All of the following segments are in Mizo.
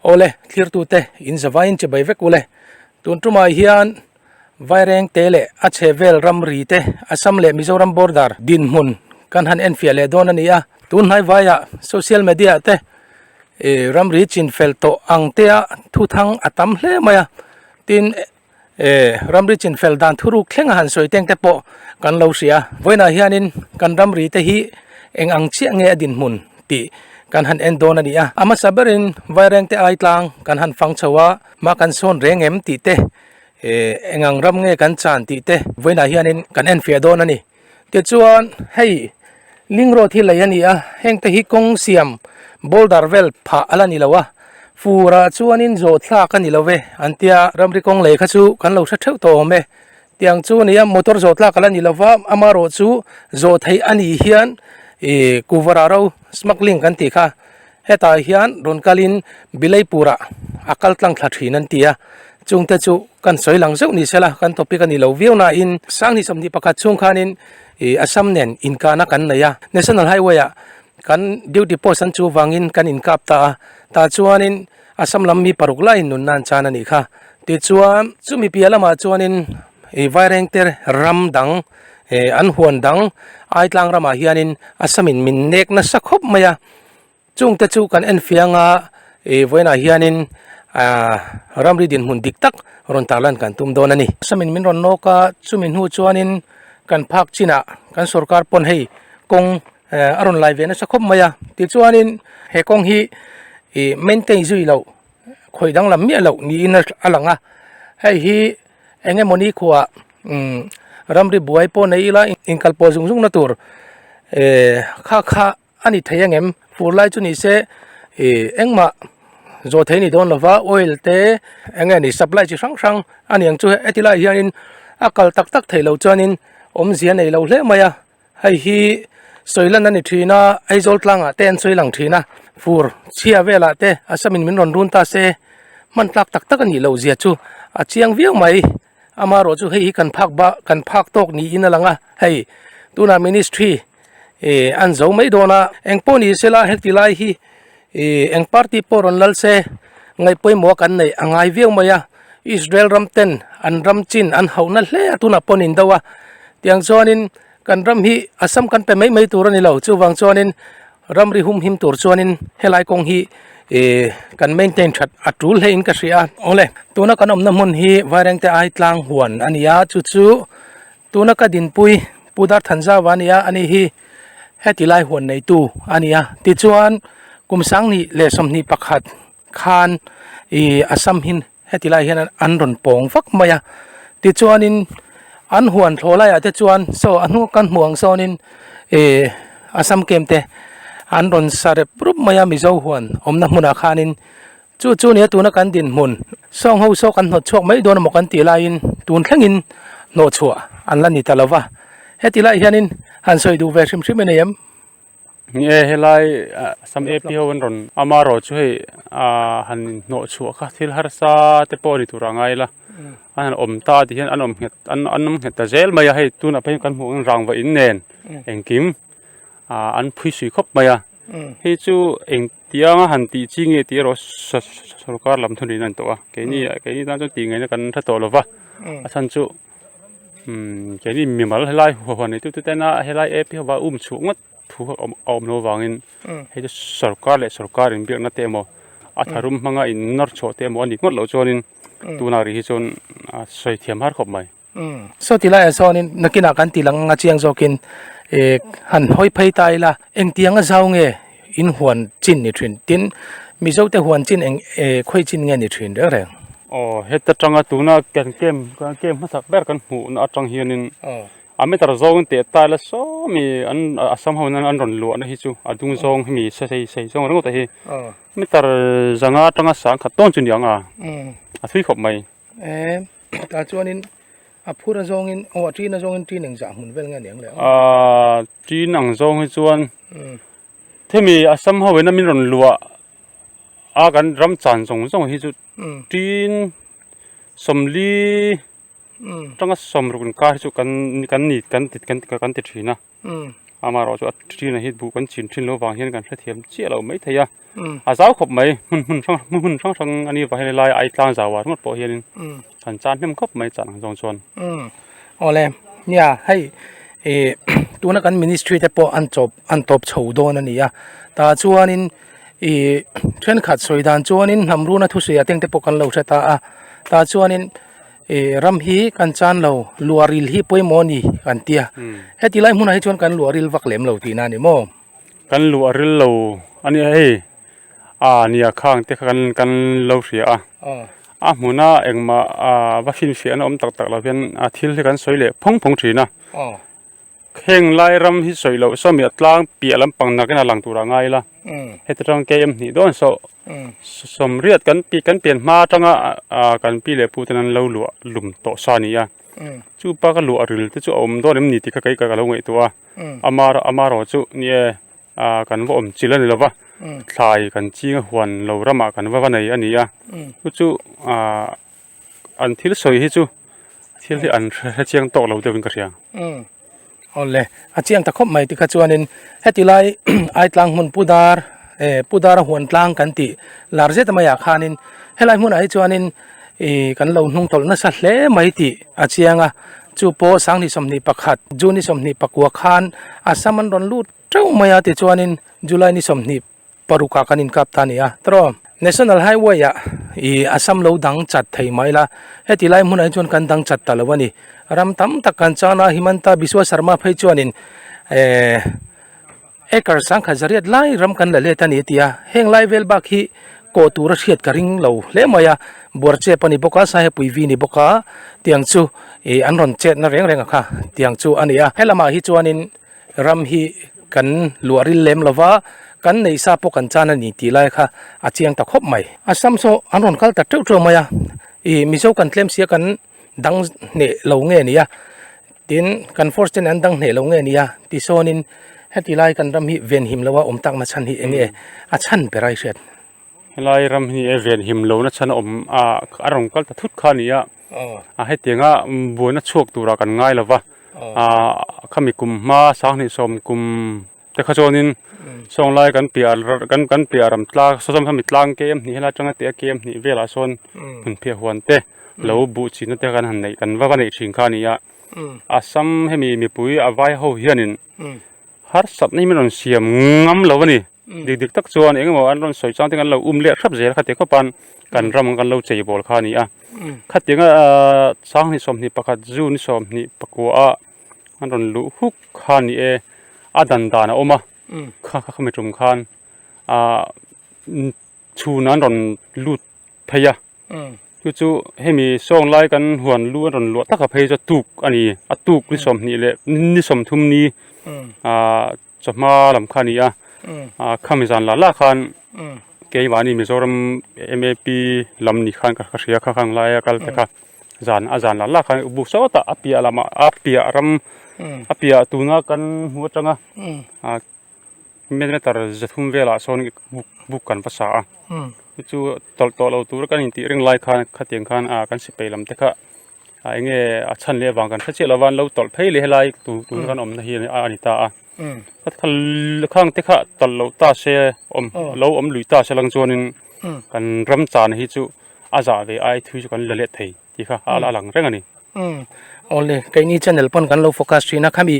Awle, thlirtute, in zavaiin che bai vek u le. Tun tumai hian Vaireng te leh a chhe vel ram ri te Assam leh Mizoram border dinhmun kan han enfiah leh dawn a ni a. Tun hnai vaiah social media-ah te ramri chinfel tawh ang tea thu thang a tam hle mai a, tin, e ramri chin fel dan thuruk thlenga han sawi teng te pawh kan lo hria vawiinah hianin kan ramri te hi eng ang chiah nge a dinhmun tih kan han en dawn a ni a a hmasa berin vaireng te ai tlang kan han fang chho a ma kan sawn reng em tih te e eng ang ram nge kan chan tih te vawiinah hianin kan enfiah dawn a ni. Tichuan hei ling road hi lei a ni a, heng te hi kawng siam boulder vel phah a la ni lo a, fur ah chuanin zawhthlak a ni lo ve an tia, ramri kawng lei kha chu kan lo hre theuh tawh awm e, tiang chu a ni a motor zawhthlak a la ni lo va, amaherawhchu zawh theih a nih hian ih kuvarah ro smuggling kan tih kha Hetah hian rawn kalin Bilaipura a kal tlang thla thin an ti a, chungte chu kan sawi lang zeuh ni sela kan topic a ni lo viau nain Sanghnih sawmhnih pakhat chhung khanin Assam nen inkahna kan nei a, National Highway ah kan duty post an chu vangin kan inkap ta a, tah chuanin Assam lam mi paruk laiin nun nan chan a nih kha. Tichuan, chumi piah lamah chuanin Vairengte ram dang an huan dang aitlang ramah hianin Assam in min nek nasa khawp mai a, Chung te chu kan en fiang a, ih vawiinah hianin aaa ramri dinhmun dik tak rawn tarlan kan tum dawn a ni. Hmasa min min rawn nawk a, chumi hnu chuanin kan phak chinah kan sorkar pawn hei kawng eeh a rawn lai ve nasa khawp mai a, tichuanin he kawng hi ih maintain zui loh khawi danglam miah loh niin a lang a, hei hi eng nge mawni khuaa umm ramri buai pawh nei ila inkal pawh zung zung na tur eeh kha kha-- a ni thei angem fur lai chu nise ih engmah zawh thei ni dawn lova oil te eng nge ni supply chi hrang hrang a niang chu heti lai hianin a kal tak tak theih loh chuanin awmzia nei loh hle mai a hei hi sawi lan a ni thin a aizawl tlangah te an sawi lang thin a fur chhia velah te asa min rawn run ta se hman tlak tak tak a nih loh zia chu a chiang viau mai. Ama erawh chu hei hi kan phak ba kan phak tawk niin a lang a, hei tunah ministry ih an zo mai dawn a, eng pawh ni sela heti lai hi ih eng party pawh rawn lal se ngaihpawimawh a kan neih a ngai viau mai a, Israel ram ten an ram chin an hauh na hle a tunah pawh a nin deuh a, tiang chuanin kan ram hi a sam kan pe mai mai tur a ni lo chuvang chuanin Ram ri hum him tur chuanin helai kawng hi ihh kan maintain that a tul hlein ka hria awle tuna kan awmna hmun hi Vairengte Aitlang huan a ni a chu chu tuna ka dinpui Pu Darthan Zava nia a ni hi heti lai huan neitu a ni a tichuan kum sangni leh sawmhnih pakhat khan ihh Assam hin heti lai hian an rawn pawng vak mai a tichuanin an huan thlaw laiah te chuan saw a hnuk kan hmuh ang sawnin ihh assam camp te an rawn sa rep rup mai a mizo huan awmna hmunah khanin chu chu nia tuna kan dinhmun saw ang ho saw kan hnawt chhuak mai dawn amaw kan tih laiin tun thlengin hnawh chhuah an la ni ta lo va heti lai hianin han sawi duh ve hrim hrim a ni em. Ni e, helai sam ep hi ho an rawn ama erawh chu hei ahh han hnawh chhuah kha thil harsa te pawh a ni tur a ngai la a han awm ta a ti hian an awm nghet an an awm nghet ta zel mai a hei tunah pawhin kan hmuh ang hian rangva in nen engkim ahh an phui sui khawp mai a hei chu engtiang a han tih chi nge tih erawh saw saw sorkar lam thawh niin a ni tawh a keini keini tan chuan tih ngaihna kan hre tawh lo va a chhan chu. keini mi mal helai huan ni tuk tuk te hian a helai a ap hian um chhuah ngawt thu a awm a awm loh avangin hei hi sawrkar leh sawrkar inbiakna te emaw a tharum hmanga inawr chhuah te emaw a ni ngawt loh chuanin tunah rih hi chuan a sawi thiam har khawp mai saw ti laiah sawnin nakinah kan tih langa chiang zawkin ih han hawi phei ta ila engtianga zau nge. in huan chin ni thin tin mizo te huan chin eng eee khawi chin nge ni thin reng reng. Aw heta tanga tuna kan kem kan kem hma sak ber kan hmuh na atang hianin a meter zawngin teh tile a sawmi an a sam ho hian an rawn luahna hi chu a dung zawng hemi se sei sei zawng ringawt a hi meter zanga atanga sangkhat dawn chu niang a a hlui khawp mai. Em tah chuanin a phur a zawng in aw a ṭin a zawng in ṭin eng zah hmun vel nge a niang leh a. Aaa ṭin ang zawng hi chuan hemi a sam ho ina min rawn luah a kan ram chan zawng zawng hi chu ṭin sawmli aṭanga sawm ruk inkar hi chu kan kan ni kan ti kan ti thin a. amaherawhchu a ṭhuthlin hi duh kan chin ṭhin loh vang hian kan hrethiam chiah loh mai thei a a zau khawp mai hun hun hrang hrang hun hun hrang hrang a nih vang hian helai ai tlang zau ah ringawt pawh hian in han chan hnem khawp mai chah ang zawng chuan awle nia hei i tuna kan ministry te pawh an chawp an tawp chho dawn a nia tah chuan in i ṭhenkhat sawi dan chuan in hnam run a thusawi ah tengte pawh kan lo hre ta a tah chuan in. E ram hi kan chan lo luaril hi pawimawh a ni kan ti a heti lai hmunah hi chuan kan luaril vak lem lo tihna a ni maw kan luaril lo a ni a hei a ni a khang te kha kan lo hria a a hmuna engmah a va hrinhfiahna awm tak tak lo hian a thil hi kan sawi leh phawng phawng thin a. Heng lai ram hi sawi loh sawmi a tlang piah lampang nakin a lang tur a ngai ila heti atang km em hnih dawn sawh sawm riat kan pi kan pian hma atanga ah kan pi leh puten an lo luah lum tawh sa nia chupa ka luah ril te chu a awm dawn em ni tihka kaihka ka lo ngaihtuah a ama ama erawh chu ni e ah kan va awm chilh a ni lova thlai kan chinga huan lo ramah kan va va nei a nia chu chu ah. an thil sawi hi chu thil hi an hrechiang tawk lo deuhin ka hria aw le a chiang ta khawp mai tikha chuanin heti lai aitlang hmun pu dar e pu dar a huan tlang kan tih lar zet a mai ah khanin helai hmunah hi chuanin ih kan lo hnung tawlh nasa hle mai tih a chiang a chu pawh sang ni sawmhnih pakhat june ni sawmhnih pakua khan assam an rawn lut teuh mai a tichuanin july ni sawmhnih-- parukah kan inkap ta nia taraw national highway ah ih assam lo dang chat thei mai la heti lai hmunah hi chuan kan dang chat ta lo a ni ram tam tak kan chuang a himanta biswa sarma phei chuanin eh acre sangkhat zariat lai ram kan la let a ni tia heng lai vel bak hi kaw tura hriat ka ring lo hle mai a buar chep a ni bawk a sahepuivi a ni bawk a tiang chu ih an rawn chetna reng reng a kha tiang chu a ni a he lamah hi chuanin. Ram hi kan luahril lem lo va, kan neih sa pawh kan chan a ni tih lai kha a chiang ta khawp mai. A sam saw an rawn kal ta teuh teuh mai a, i Mizo kan tlem sia kan dang hneh lo nge nia, tin kan force te nen an dang hneh lo nge nia tisawn in heti lai kan ram hi venhim lo a awm tak na chhan hi eng nge a chhan ber a i hriat. Helai ram hi event him lohna chhan a awm a a rawn kal ta thut kha a ni a a hetianga buaina chhuak tura kan ngai lo va ahh khami kum hma sanghnih sawm kum te kha chuanin sawnglai kan piahah kan kan piahah ram tlang sawm khami tlang ke em hnih ila atanga teh a ke em hnih velah sawn hun phiah huan te lo buh chhina te kan han neih kan va va neih thin kha a ni a a sam hemi mipui a vai ho hianin. Harsatna hi min rawn siam ngam lo a ni. Dik dik tak chuan eng emaw an rawn sawi chang te kan lo um leh hrap zel a, khati khawp an kan ram ang kan lo chei bawl kha a ni a. Khati anga Sanghnih sawmhnih pakhat June i sawmhnih pakua ah an rawn luh huk kha a ni e, a dan dan a awm a, kha kha khami tum khan chhun an rawn lut phei a. Chu chu hemi sawng lai kan huan lu a rawn luah taka phei chu a tuk a ni a tuk ni sawmhnih leh ni sawmthum ni aah chawhma lam kha a ni a aah khami zan lah lah khan keimahni Mizoram map lam ni khan ka hria kha hang lai a kal ta kha zan a zan lah lah khan u buk sawta a piah lamah a piah ram a piah tuna kan hmu atanga aah-- Mediator zathum velah sawn buk kan va sa a, chu chu tawlh tawh lo tur kan intih reng lai khan khatiang khan a kan sipai lam te kha a enge a chhan leh avang kan hre chiah lova an lo tawlh phei leh helai tu tun kan awmna hi a ni ta a khang te kha tawlh loh ta se awm lo awm lui ta se lang chuanin kan ram chana hi chu a zah ve aia thu chu kan la let thei. tih kha a la lang reng a ni. Umm awle keini channel pawn kan lo focus thin a khami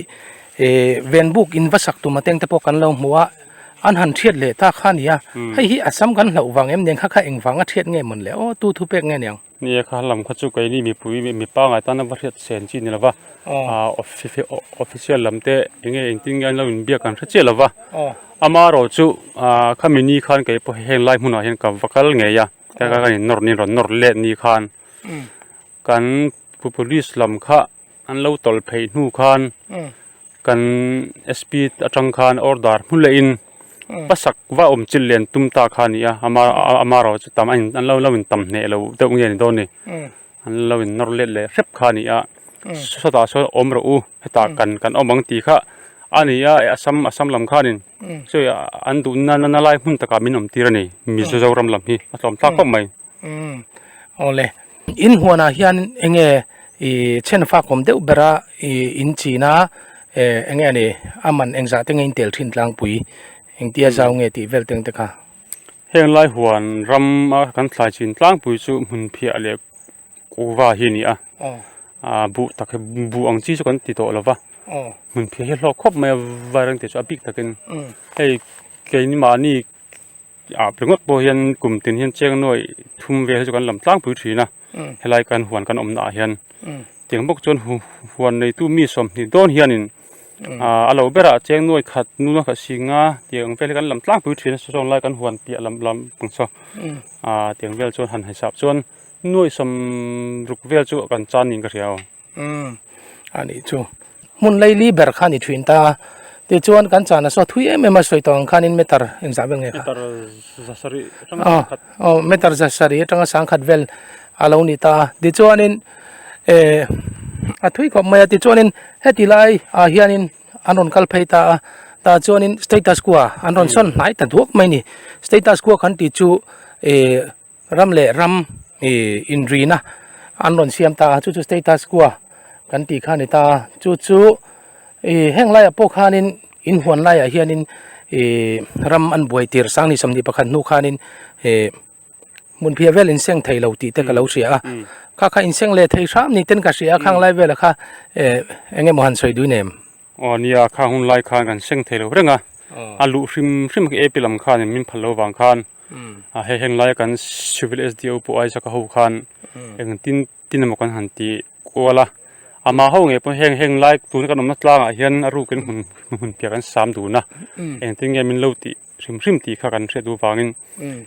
ihh ven buk in va sak tum ateng te pawh kan lo hmu a an han thiat leh ta kha a ni a hei hi a sam kan hlauh vang em ni ang kha kha eng vang a thiat nge mawn le aw tu thu pek nge ni ang. Ni e kha lam kha chu keini mipui mi mi pangngai tan a va hriat chhen chi ni lo va ahh offi official lam te eng nge engtin nge an lo in biak kan hre chiah lo va ama erawh chu ahh khami ni khan kei pawh henlai hmunah hian ka va kal ngei a. heta kan in nawr ni rawn nawr let ni khan kan pu police lam kha an lo tawlh phei hnu khan kan S P atang khan order hmu leh in hma sak va awm chilh len tum ta kha a ni a ama amarawhchu tam a in an lo in tam hneh loh deuh nge ni dawn ni. An lo in nawr let leh hrep kha a ni a, sawtah sawn awm rawh u, hetah kan kan awm ang tih kha a ni a, a sam a sam lam khanin sawi a an duh na na lai hmun takah min awm tir a ni, Mizo Zoram lam hi a hlawm thlak khawp mai. Aw le, in huanah hian eng nge i chhen fak awm deuh bera i in chin a, eng nge a ni, a man engzah te nge in tel thin tlangpui, engtia zau nge tih vel teng te kha. Heng lai huan ram a kan thlai chin tlangpui chu hmun phiah leh kuva hi a ni a aaa buh tak hi buh ang chi chu kan ti tawh lo va hmun phiah hi a hlawk khawp mai a vai reng te chu a bik takin hei keini mahni ah pe ngawt pawh hian kum tin hian cheng nuaih thum vel hi chu kan lam tlangpui thin a helai kan huan kan awmna ah hian tiang bawk chuan huan neitu mi sawmhnih dawn hian in-- Aaa a lo berah cheng nuai khat nu a khat sing a tiang ang vel hi kan lam tlangpui thin a sawn lai kan huan piah lam lam ang chu aa tiang vel chuan han haisap chuan nuaihsam ruk vel chu a kan chan niin ka hria aw umm a nih chu hmun laili ber kha ni thin ta tichuan kan chana saw thui em em a sawi tawh ang khanin meter in zah vel nge kha meter za sarih atanga aw meter za sarih atanga sangkhat vel a lo ni ta tichuanin. eeh a thui khawp mai a tichuanin heti lai ah hianin an rawn kal phei ta a ta chuanin status kuaha an rawn sawn hnai ta duak mai a ni status kuah kan tih chu eeh ram leh ram eeh inrihna an rawn siam ta a chu chu status kuah kan tih kha a ni ta chu chu eeh heng laiah pawh khanin inhuan laiah hianin eeh ram an buai tir sang ni sawm ni pakhat hnu khanin eeh-- hmun phiah vel inseng thei lo tih te ka lo hria a kha kha inseng leh thei hrâm ni ten ka hria a khang lai vêlah kha eh eng emaw han sawi duin em? Aw nia kha hun lai khan kan seng thei lo reng a a luh hrim hrim a ap i lam khan min phal lo vang khan a he heng laia kan civil sdo pawh aisakha ho khan engtin-- tin emaw kan han ti kual a amah ho ngei pawh heng henglai tuna kan awmna tlangah hian a ruk in hun hun piah kan sam dun a engtin nge min lo tih hrim hrim tih kha kan hriat duh avangin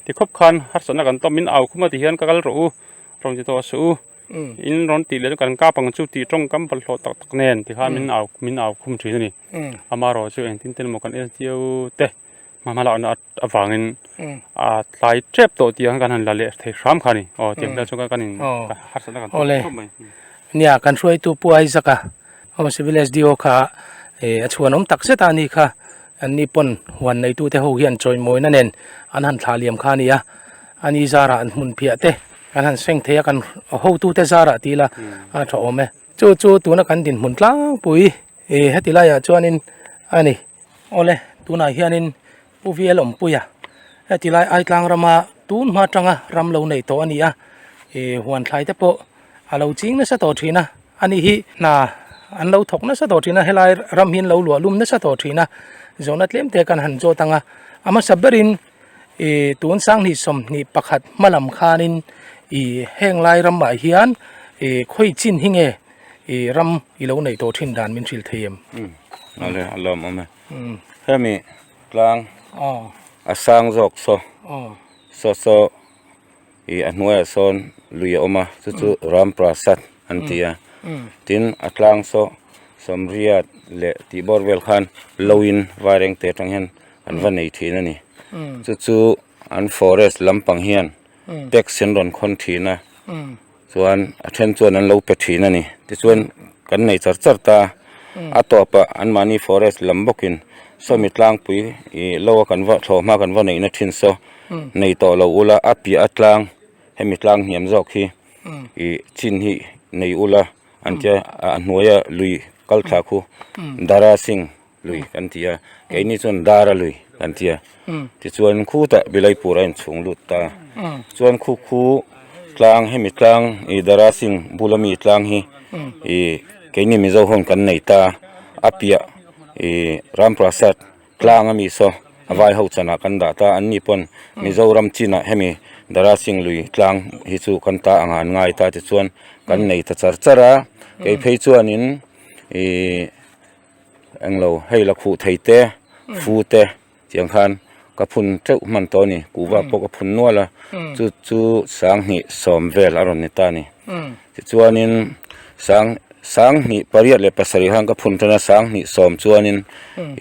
ti khawp khan harsatna kan tawm in au khawmp a ti hian ka kal rawh u rawn ti tawh a si u in rawn tih leh chu kan kap ang chu tih tawng kam bawlhhlawh tak tak nen ti kha min au min au khum thin a ni amaherawhchu engtin te emaw kan en chieu te hma hma lakna a-- avangin a tlai tep tawh tih ang kan han la leh thei hram kha a ni aw tiang te chu kan in harsat na kan tawh tawp mai nia kan hruaitu pu aizaka aw civil sdo kha eh a chhuan awm tak zet a ni kha an ni pawn huan neitu te ho hian chawimawina nen an han thlah liam kha a nia a ni zara an hmun phiah te kan han seng thei a kan hotu te zara tih ila a tha awm e chu chu tuna kan dinhmun tlangpui eh heti laiah chuanin a ni. awle tunah hianin pu via lawmpuia heti lai ai tlang rama tun hma tanga ram lo nei tawh a nia ih huan thlai te pawh a lo ching nasa tawh thin a a ni hi hna an lo thawk nasa tawh thin a helai ram hi an lo luah lum nasa tawh thin a zawhna tlem te kan han zawt ang a a hmasa berin-- Ih tun sang hnih sawmhnih pakhat hma lam khanin ih heng lai ramah hian ih khawi chin hi nge ih ram i lo neih tawh thin dan min hrilh thei em? Nghale a lawm awm e. Hemi tlang a sang zawk saw saw saw. ih a hnuaiah sawn lui a awm a chu chu Ram Prasad an ti a tin a tlang saw Sawmriat leh Tihbawr vel khan Loin Vairengte atang hian an va nei thin a ni chu chu an forest lampang hian tax an rawn khawn thin a chuan a then chuan an lo pe thin a ni tichuan kan nei char char ta a tawpah an mahni forest lam bawkin Sawmitlang pui ih lo a kan va thlawhma kan va neihna thin saw nei tawh lo ula a piah a tlang hemi tlang hniam zawk hi ih chin hnih nei ula an tia a hnuaia lui kal thla khu dara sing lui kan tia keini chuan dara lui kan tia tichuan khutah bilaipura in chhung lut ta chuan khukhu tlang hemi tlang ih dara sing bula mi tlang hi ih keini mizo hawn kan nei ta a piah ih ramprasat. Tlang a mi saw a vai ho chan ah kan dah ta an ni pawn Mizoram chin ah hemi Darasing lui tlang hi chu kan ta ang a an ngai ta ti chuan kan nei ta char char a, kei phei chuan in ih eng lo hei la khuh thei te fu te tiang khan ka phun teuh hman tawh a ni, kuhva pawh ka phun nual a, chu chu sang hnih sawm vel a rawn ni ta a ni. Tichuanin sang sang hnih pariat leh pasarih han ka phun tan a, sang hnih sawm chuanin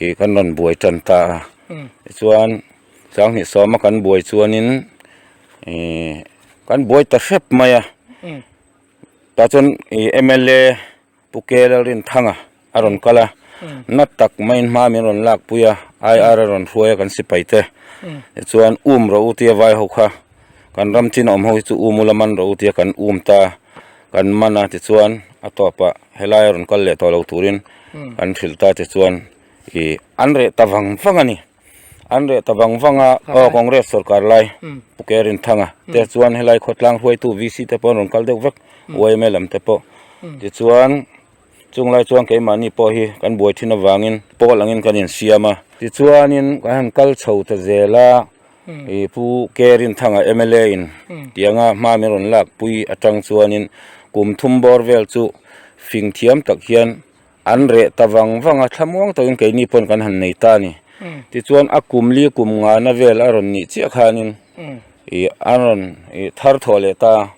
ih kan rawn buai tan ta a. Tichuan sang hnih sawma kan buai chuanin ih kan buai ta hrep mai a. Tah chuan ih mla. Pu Kela Rinthanga a rawn kal a, na tak mai hma min rawn lakpui a, ai ara rawn hruai a kan sipai te, tichuan um rawh u tia vai ho kha, kan ram chin a awm ho hi chu um ula man rawh u tia kan um ta, kan man a tichuan a tawpah helai a rawn kal leh tawh lo turin kan hrilh ta tichuan ih an reh ta vang vang a ni. An reh ta vang vang a, aw Congress sawrkar lai Phuket Rinthanga te chuan helai khawtlang hruaitu VC te pawh an rawn kal deuh vek, YMA lam te pawh. Tichuan chung lai chuan keimahni pawh hi kan buai thin avangin pawl angin kan insiam a. Tichuanin kan han kal chho ta zel a, i Pu Ke Rinthanga mla in tianga hma min rawn lakpui atang chuanin kum thum bawr vel chu fing thiam tak hian An reh ta vang vang a, thlamuang takin keini pawn kan han nei ta a ni. Tichuan a kum li kum ngana vel a rawn nih chiah khanin ih a rawn ih thar thawh leh ta a,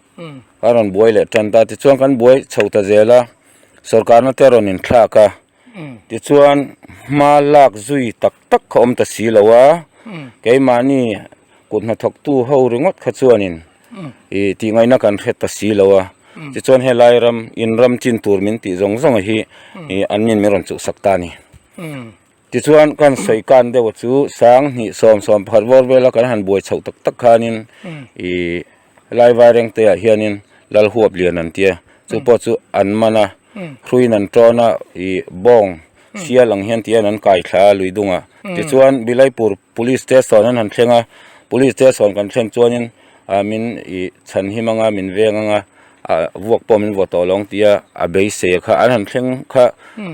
a rawn buai leh tan ta a. Tichuan kan buai chho ta zel a, sorkarna te a rawn inthlak a, tichuan hma lak zui tak tak kha awm ta si lo a, keimahni kut hnathawktu ho ringawt kha chuanin ih tih ngaihna kan hre ta si lo a, tichuan helai ram inram chin tur min tih zawng zawng hi ih an min min rawn chuh sak ta a ni. Tichuan kan sawi kan deuh chu sang hnih sawm sawm pakhat vawr vela kan han buai chhoh tak tak khanin ih helai vai reng te ah hianin lal huap lian an tia, chu pawh chu an man a, hruiin an tawn a, ih bawng sial ang hian tihian an kaithla a lui dungah. Tichuan Bilaipur Police station an han thleng a, Police station kan thlen chuanin min ih chhan him anga min veng anga vuak pawh min vawt tawh alawng tia a beise kha an han thleng kha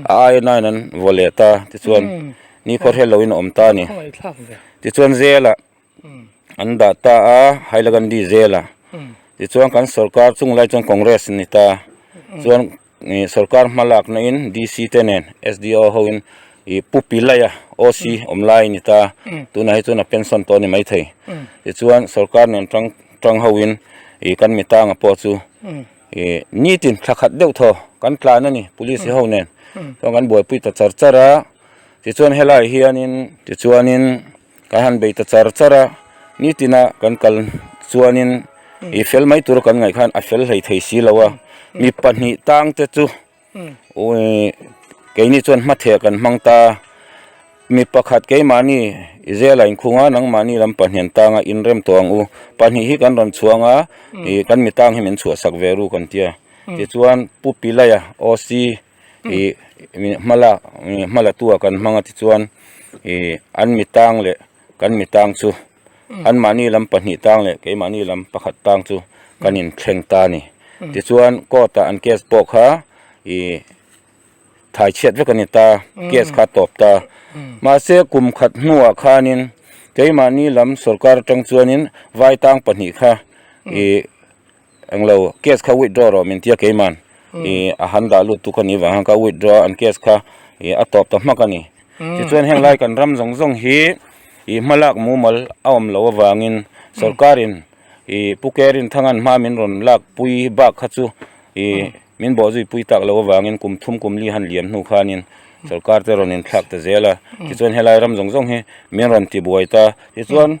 a aia naiin an vaw leh ta tichuan nikhawr hel loin a awm ta a ni tichuan zela an dah ta a Hailagandi zela tichuan kan sorkar chunglai chuan Congress a ni ta chuan ih sorkar hma lakna in DC te nen SDO ho in ih pu pilai a OC awm lai a ni ta tunah hi chuan a pension tawh a ni mai thei tichuan sorkar nen tang tang ho in ih kan mi tanga pawh chu ih nitin thla khat deuh thaw kan tlan a ni police ho nen chuan kan buaipui ta char char a tichuan helai hian in tichuan in Ka han bei ta char char a, nitina kan kal chuanin i fel mai tur kan ngaih khan a fel hlei thei si lo a, mi pahnih tang te chu keini chuan hmatheh kan hmang ta, mi pakhat keimahni i zela in khung a nangmahni lam pahnian tanga inrem tawh ang u, pahnih hi kan rawn chhuang a, kan mi tang hi min chhuahsak ve ru kan tia, tichuan Pu Pilaia OC ih ih hma la ih hma latu ah kan hmang a tichuan ih an mi tang leh kan mi tang chu an mahni lam pahnih tang leh keimahni lam pakhat tang chu kan in thleng ta a ni tichuan court ah an case pawh kha ih thai chhiat vek a ni ta case kha a tawp ta mahse kum khat hnuah khanin keimahni lam sorkar atang chuanin vai tang pahnih kha ih Englo case kha withdraw rawh min tia keiman i a han dah lut tu ka nih vang khan ka withdraw a an case kha i a tawp ta hmak a ni tichuan heng lai kan ram zawng zawng hi i hma lak mumal a awm loh avangin sawrkar in i pu kerinthang an hma min rawn lak pui bak kha chu i min bawh zui pui tak loh avangin kum thum kum li han liam hnu khanin sawrkar te rawn inthlak ta zel a tichuan helai ram zawng zawng hi min rawn ti buai ta tichuan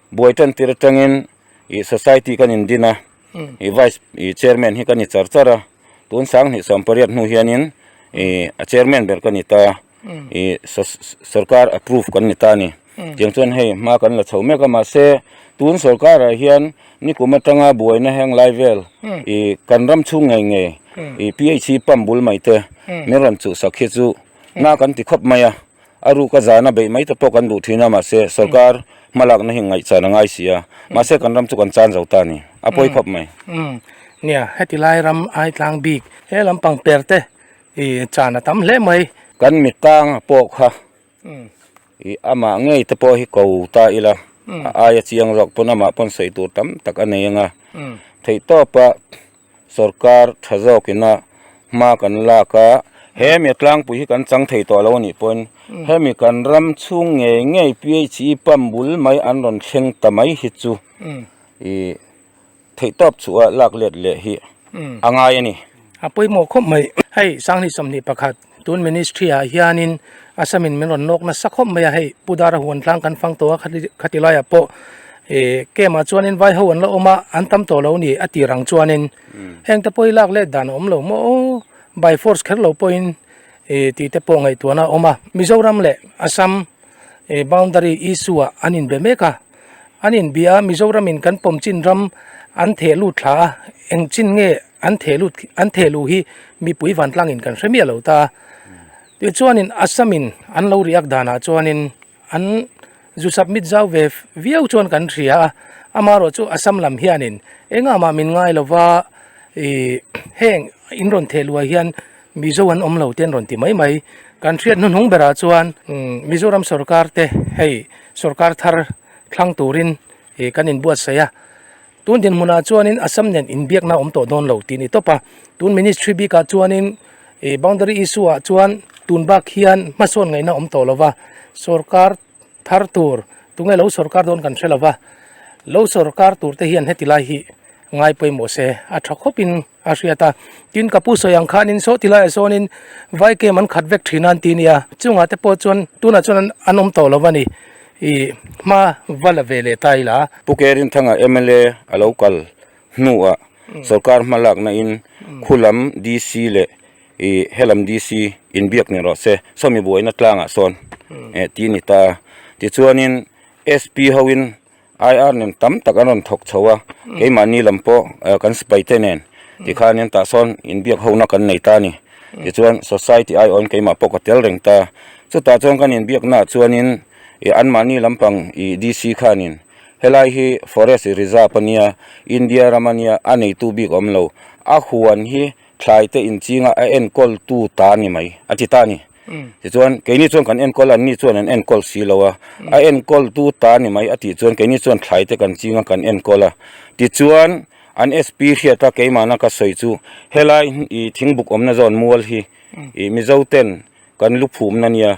Buai tan tir atangin ih society kan in din a, ih vice ih chairman hi kan i char char a, tun sang hnih sawm pariat hnu hianin ih a chairman ber kan ni ta a, ih sorkar approve kan ni ta a ni, tiang chuan hei hma kan la chho mek a, mahse tun sorkarah hian nikum atanga buaina heng lai vel ih kan ram chhung ngei ngei ih phc pump bul mai te min rawn chuhsak hi chu na kan ti khawp mai a. A ruka zan a beih mai ta pawh kan duh thin a, mahse sorkar hmalakna hi ngaihchian a ngai si a, mahse kan ram chu kan chan zo ta a ni, a pawi khawp mai. Umm, nia, heti lai ram aitlang bik he lam pang per te ih chan a tam hle mai. Kan mit tang a pawh kha ih amah ngei te pawh hi ko ta ila, a aia chiang zawk pawn amah pawn sawi tur tam tak a nei anga theihtawpa. Sorkar tha zawk in a hma kan lak a. Hemi a tlangpui hi kan chang thei tawh lo anih pawhin hemi kan ram chhung ngei ngei PHE pump bul mai an rawn thleng ta mai hi chu i theihtawp chhuah a lak let leh hi a ngai a ni. A pawimawh khawp mai. Hei Sanghnih sawmhnih pakhat Tun Ministry ah hianin Assamin min rawn nawk nasa khawp mai a, hei Pu Dara huan tlang kan fang tawh a khati khati lai ah pawh ihh camp ah chuan vai ho an la awm a an tam tawh lo ni a tih rang chuanin heng te pawh hi lak let dan a awm lo maw aw by force kher lo pawhin ihh tih te pawh ngaihtuahna a awm a Mizoram leh Assam boundary issue ah an inbe mek a. an inbia a mizoram in kan pawm chin ram an theh lut thla a eng chin nge an theh lut an theh luh hi mipui vantlang in kan hre miah lo ta tih chuan in assam in an lo riak dan ah chuan in an zu submit zau ve viau chuan kan hria a ama erawh chu assam lam hian in eng a mah min ngai lo va ihh heng in rawn theh luh ah hian Mizo an awm lo te an rawn ti mai mai. Kan hriat hnuhnung berah chuan Mizoram sorkar te hei sorkar thar thlang turin kan in buatsaih a, tun dinhmunah chuanin Assam nen inbiakna awm tawh dawn lo tih a ni tawp a, tun ministry bikah chuanin boundary issue ah chuan tun bak hian hmasawn ngaihna awm tawh lova sorkar thar tur tunge lo sawrkar dawn kan hre lova lo sawrkar tur te hian heti lai hi ngai pawimawh se a tha khawp in a hriat a tin ka pu sawi ang khan in saw ti lai ah sawn in vai kem an khat vek thin a an ti nia chung ah te pawh chuan tunah chuan an awm tawh lova ni ih hma va la ve leh ta ila. Pu Kerinthang a mla a lo kal hnu ah sawrkar hma lak na in khulam DC leh ih helam DC inbiak nen rawh se sawmi buaina tlangah sawn eh ti ani ta tichuanin SP hoin IR nen tam tak an rawn thawk chho a keimahni lam pawh kan sipai te nen ti khanin tah sawn inbiak hona kan nei ta ani tichuan society ai awn keimah pawh ka tel reng ta chutah chuan kan inbiaknaah chuanin ih anmahni lampang ih DC khanin helai hi forest reserve ania India ram ania a neitu bik awm lo a huan hi thlaite inchinga a enkawl tu ta ni mai a ti ta a ni. Tichuan, keini chuan kan enkawl a, anni chuan an enkawl si lo a, a enkawl tu ta ni mai a tih chuan keini chuan thlaite kan chinga kan enkawl a. Tichuan, an SP hriat a, keimahna ka sawi chu helai thingbuk awmna zawn mual hi Mizoten kan luphumna nia.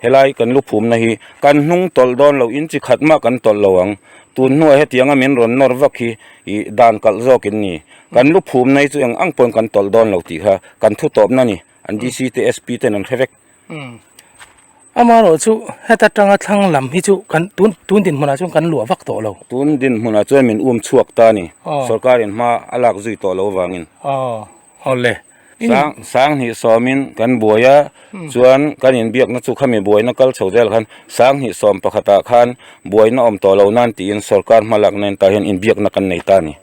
Helai kan luphumna hi kan hnung tawlh dawn loin chi khat mah kan tawlh lo ang. Tun hnuai hetianga min rawn nawr vak hi i dan kalh zawkin ni. Kan luphumna hi chu eng ang pawhin kan tawlh dawn lo tih kha kan thu tawpna ni, an DC te SP ten an hre vek. Amaherawh chu heta tanga thlang lam hi chu kan tun tun din hmunah chuan kan luah vak tawh lo. Tun din hmunah chuan min um chhuak ta ni, sorkarin hma a lak zui tawh lo vangin. Haw le, sang sang hnih sawmin kan buai a, chuan kan inbiakna chu khami buaina kal chho zel khan sang hnih sawm pakhatah khan buaina awm tawh lo nan tiin sorkar hma lakna in tah hian inbiakna kan nei ta a ni.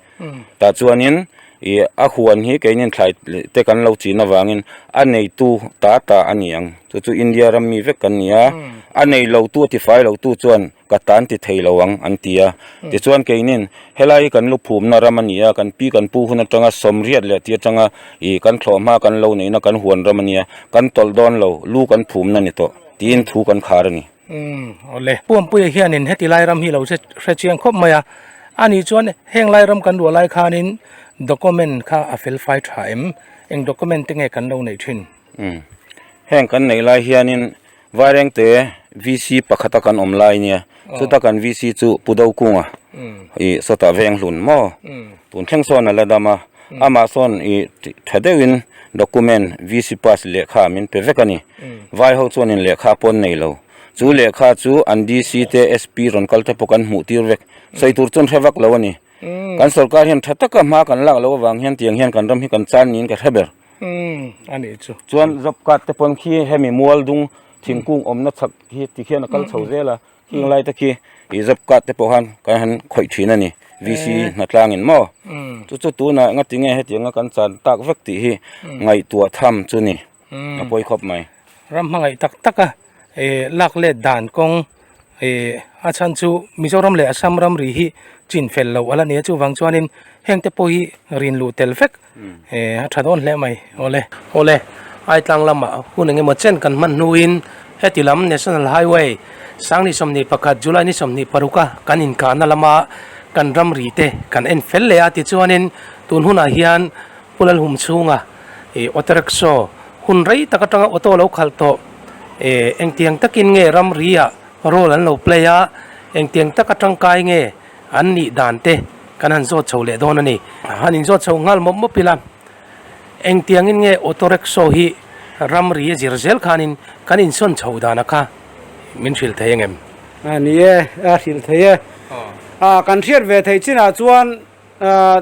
Tah chuanin i a huan hi keinin thlai te kan lo chin avangin a neitu ta ta a ni ang. Chu chu India ram mi vek kan ni a, a nei lotu a tifai lotu chuan Ka tan ti thei lo ang, an ti a. Tichuan kei nen, Helai hi kan luphumna ram a ni a, kan pi kan pu hun atanga sawm riat leh ti atanga ih kan thlawh hma kan lo neihna kan huan ram a ni a, kan tawlh dawn lo, lu kan phumna ni tawh, tiin thu kan khar a ni. Awle. Pu Ampuia hianin heti lai ram hi lo hre hre chiang khawp mai a, a ni chuan heng lai ram kan ruah lai khanin document kha a felfai tha em, eng document te nge kan lo neih thin? Umm heng kan neih lai hianin vairengte VC pakhata kan awm lai nia chuta kan VC chu Pu Dokunga ih sawta veng hlun maw tun thleng sawn a la dam a, amah sawn ih tha deuhin document VC pass lehkha min pe vek a ni. Vai ho chuanin lehkha pawn nei lo, chu lehkha chu an DC te SP rawn kal te pawh kan hmuh tir vek, sawi tur chuan hre vak lo a ni. Kan sorkar hian tha taka hma kan lak lo avang hian tiang hian kan ram hi kan chan niin ka hre ber. a nih chu chuan job card te pawn khi hemi mual dung thingkung awmna chak hi ti khian a kal chho zel a heng lai te khi ih job card te pawh khan kan han khawih thin a ni VC Hnatlangin maw chu chu tunah enga ti nge hetianga kan chan tak vek tih hi ngaihtuah tham chu ni a pawi khawp mai ram hmangaih tak tak a. eh lak let dan kawng eh a chhan chu Mizoram leh Assam ram ri hi chin fel loh ala ni a chuvang chuanin hengte pawh hi rin luh tel vek eh a tha dawn hle mai awle awle ai tlang lama hun engemaw chen kan hman hnuin heti lam national highway sangni sawmhnih pakhat July ni sawmhnih paruka kan inkahna lama kan ram ri te kan en fel leh a tichuanin tun hunah hian Hun an hum chhunga ih auto rickshaw hun rei tak atanga auto lo khalh tawh eh engtiang takin nge ramriah role an lo play a, engtiang taka tangkai nge an nih dan te kan han zawt chho leh dawn a ni. Han inzawt chho nghal mawp mawp ila, engtiangin nge auto rickshaw hi ramri a zir zel khanin kan insawn chho dan a kha min hrilh thei ang em? A ni e, a hrilh thei e. A kan hriat ve thei chinah chuan ah.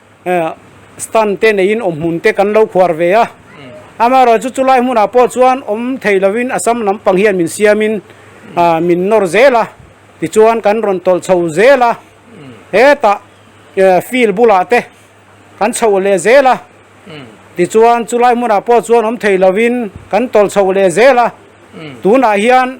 Stand te neiin awm hmun te kan lo khuar ve a, amaherawh chu chu lai hmunah pawh chuan awm thei lovin a sam lampang hian min siamin min nawr zel a, tichuan kan rawn tawlh chho zel a, hetah field bulah te kan chho leh zel a, tichuan chu lai hmunah pawh chuan awm thei lovin kan tawlh chho leh zel a, tunah hian.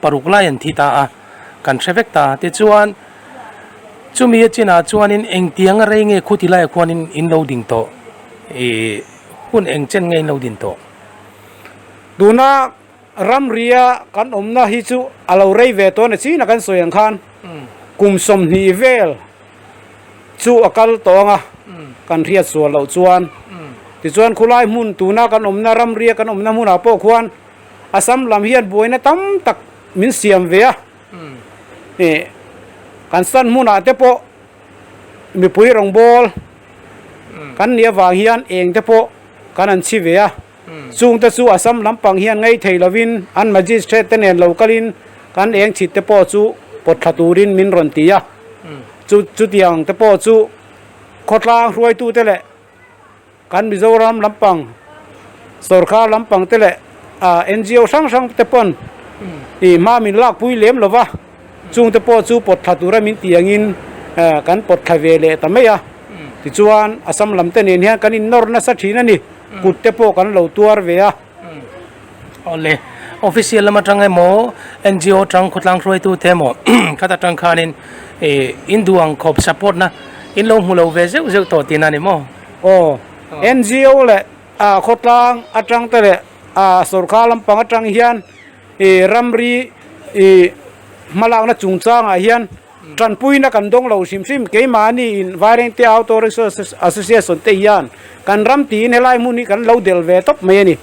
Paruk lai an thi ta a, kan hre vek ta. Tichuan, chumi a chinah chuanin engtiang a rei nge khuti laia khuanin in lo ding tawh? Ih, hun engchen nge in lo din tawh? Tuna ramria kan awmna hi chu a lo rei ve tawh a ni. China kan sawi ang khan kum sawmhnih vel chu a kal tawh ang a, kan hriatsual loh chuan. Tichuan khulai hmun tuna kan awmna ramria kan awmna hmunah pawh khuan, Assam lam hian buaina tam tak min siam ve a, ni kan san hmunah te pawh mipui rawngbâwl kan nih avang hian êng te pawh kan an chhi ve a, chûngte chu Assam lampang hian ngei thei lovin an Magistrate te nen lo kalin kan êng chhit te pawh chu pawttha turin min rawn ti a, chu chutiang te pawh chu khawtlang hruaitute leh. Kan Mizoram lampang sorkar lampang te leh NGO hrang hrang te pawn ih hma min lakpui lem lova chungte pawh chu pawt thla tura min ti angin kan pawt thla ve leh ta mai a. Tichuan Assam lam te nen hian kan innawr nasa thin a ni, kut te pawh kan lo tuar ve a. Awle, official lam atang emaw, NGO atang khawtlang hruaitu te emaw khat atang khanin ih induang khawp support na in lo hmu lo ve zeuh zeuh tawh tiin a ni maw? Aw, NGO leh khawtlang atang te leh sorkar lampang atang hian ih ramri ih hmalakna chungchangah hian, Tanpuina kan dawng lo hrim hrim. Keimah niin Vairengtea Auto Rickshaw Association te hian kan ram tiin helai hmun hi kan lo del ve tawp mai a ni.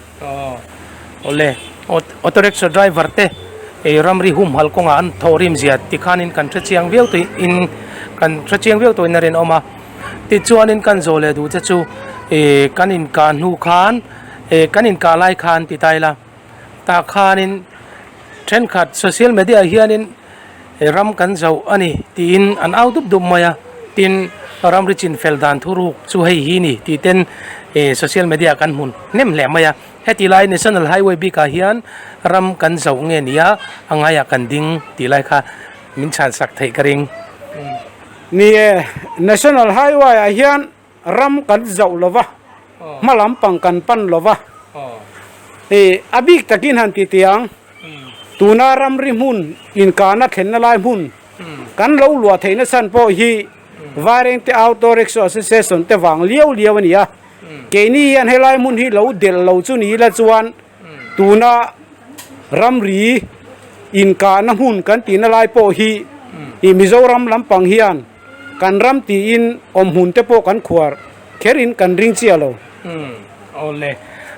Awle, Auto Rickshaw Driver te ih ram ri humhal kawngah an thaw rim zia tikhanin kan hre chiang viau tawhin kan hre chiang viau tawhin a rinawm a. Tichuanin kan zawh leh duh che chu ih kan inkah hnu khan ih kan inkah lai khan ti ta ila. tah khanin thenkhat social media ah hianin ram kan zauh a ni tiin an au dup dup mai a tin ram ri chin fel dan thu ruk chu hei hi ni tih ten ih social media ah kan hmu hnem hle mai a heti lai national highway bik ah hian ram kan zauh nge nia a ngai ah kan ding tih lai kha min chhan sak theih ka ring. Ni e, national highway ah hian. Ram kan zauh lo va, hma lampang kan pan lo va. I a bik takin han ti tiang, tuna ramri hmun inkahna thlenna lai hmun kan lo luah theih nasan pawh hi Vairengte Auto Rickshaw Association te vang liau liau a ni a. Keini hian helai hmun hi lo delh lo chu ni ila chuan, Tuna ramri inkahna hmun kan tihna lai pawh hi i Mizoram lampang hian kan ram tiin awm hmun te pawh kan khuar kher in kan ring chiah lo. Aw le,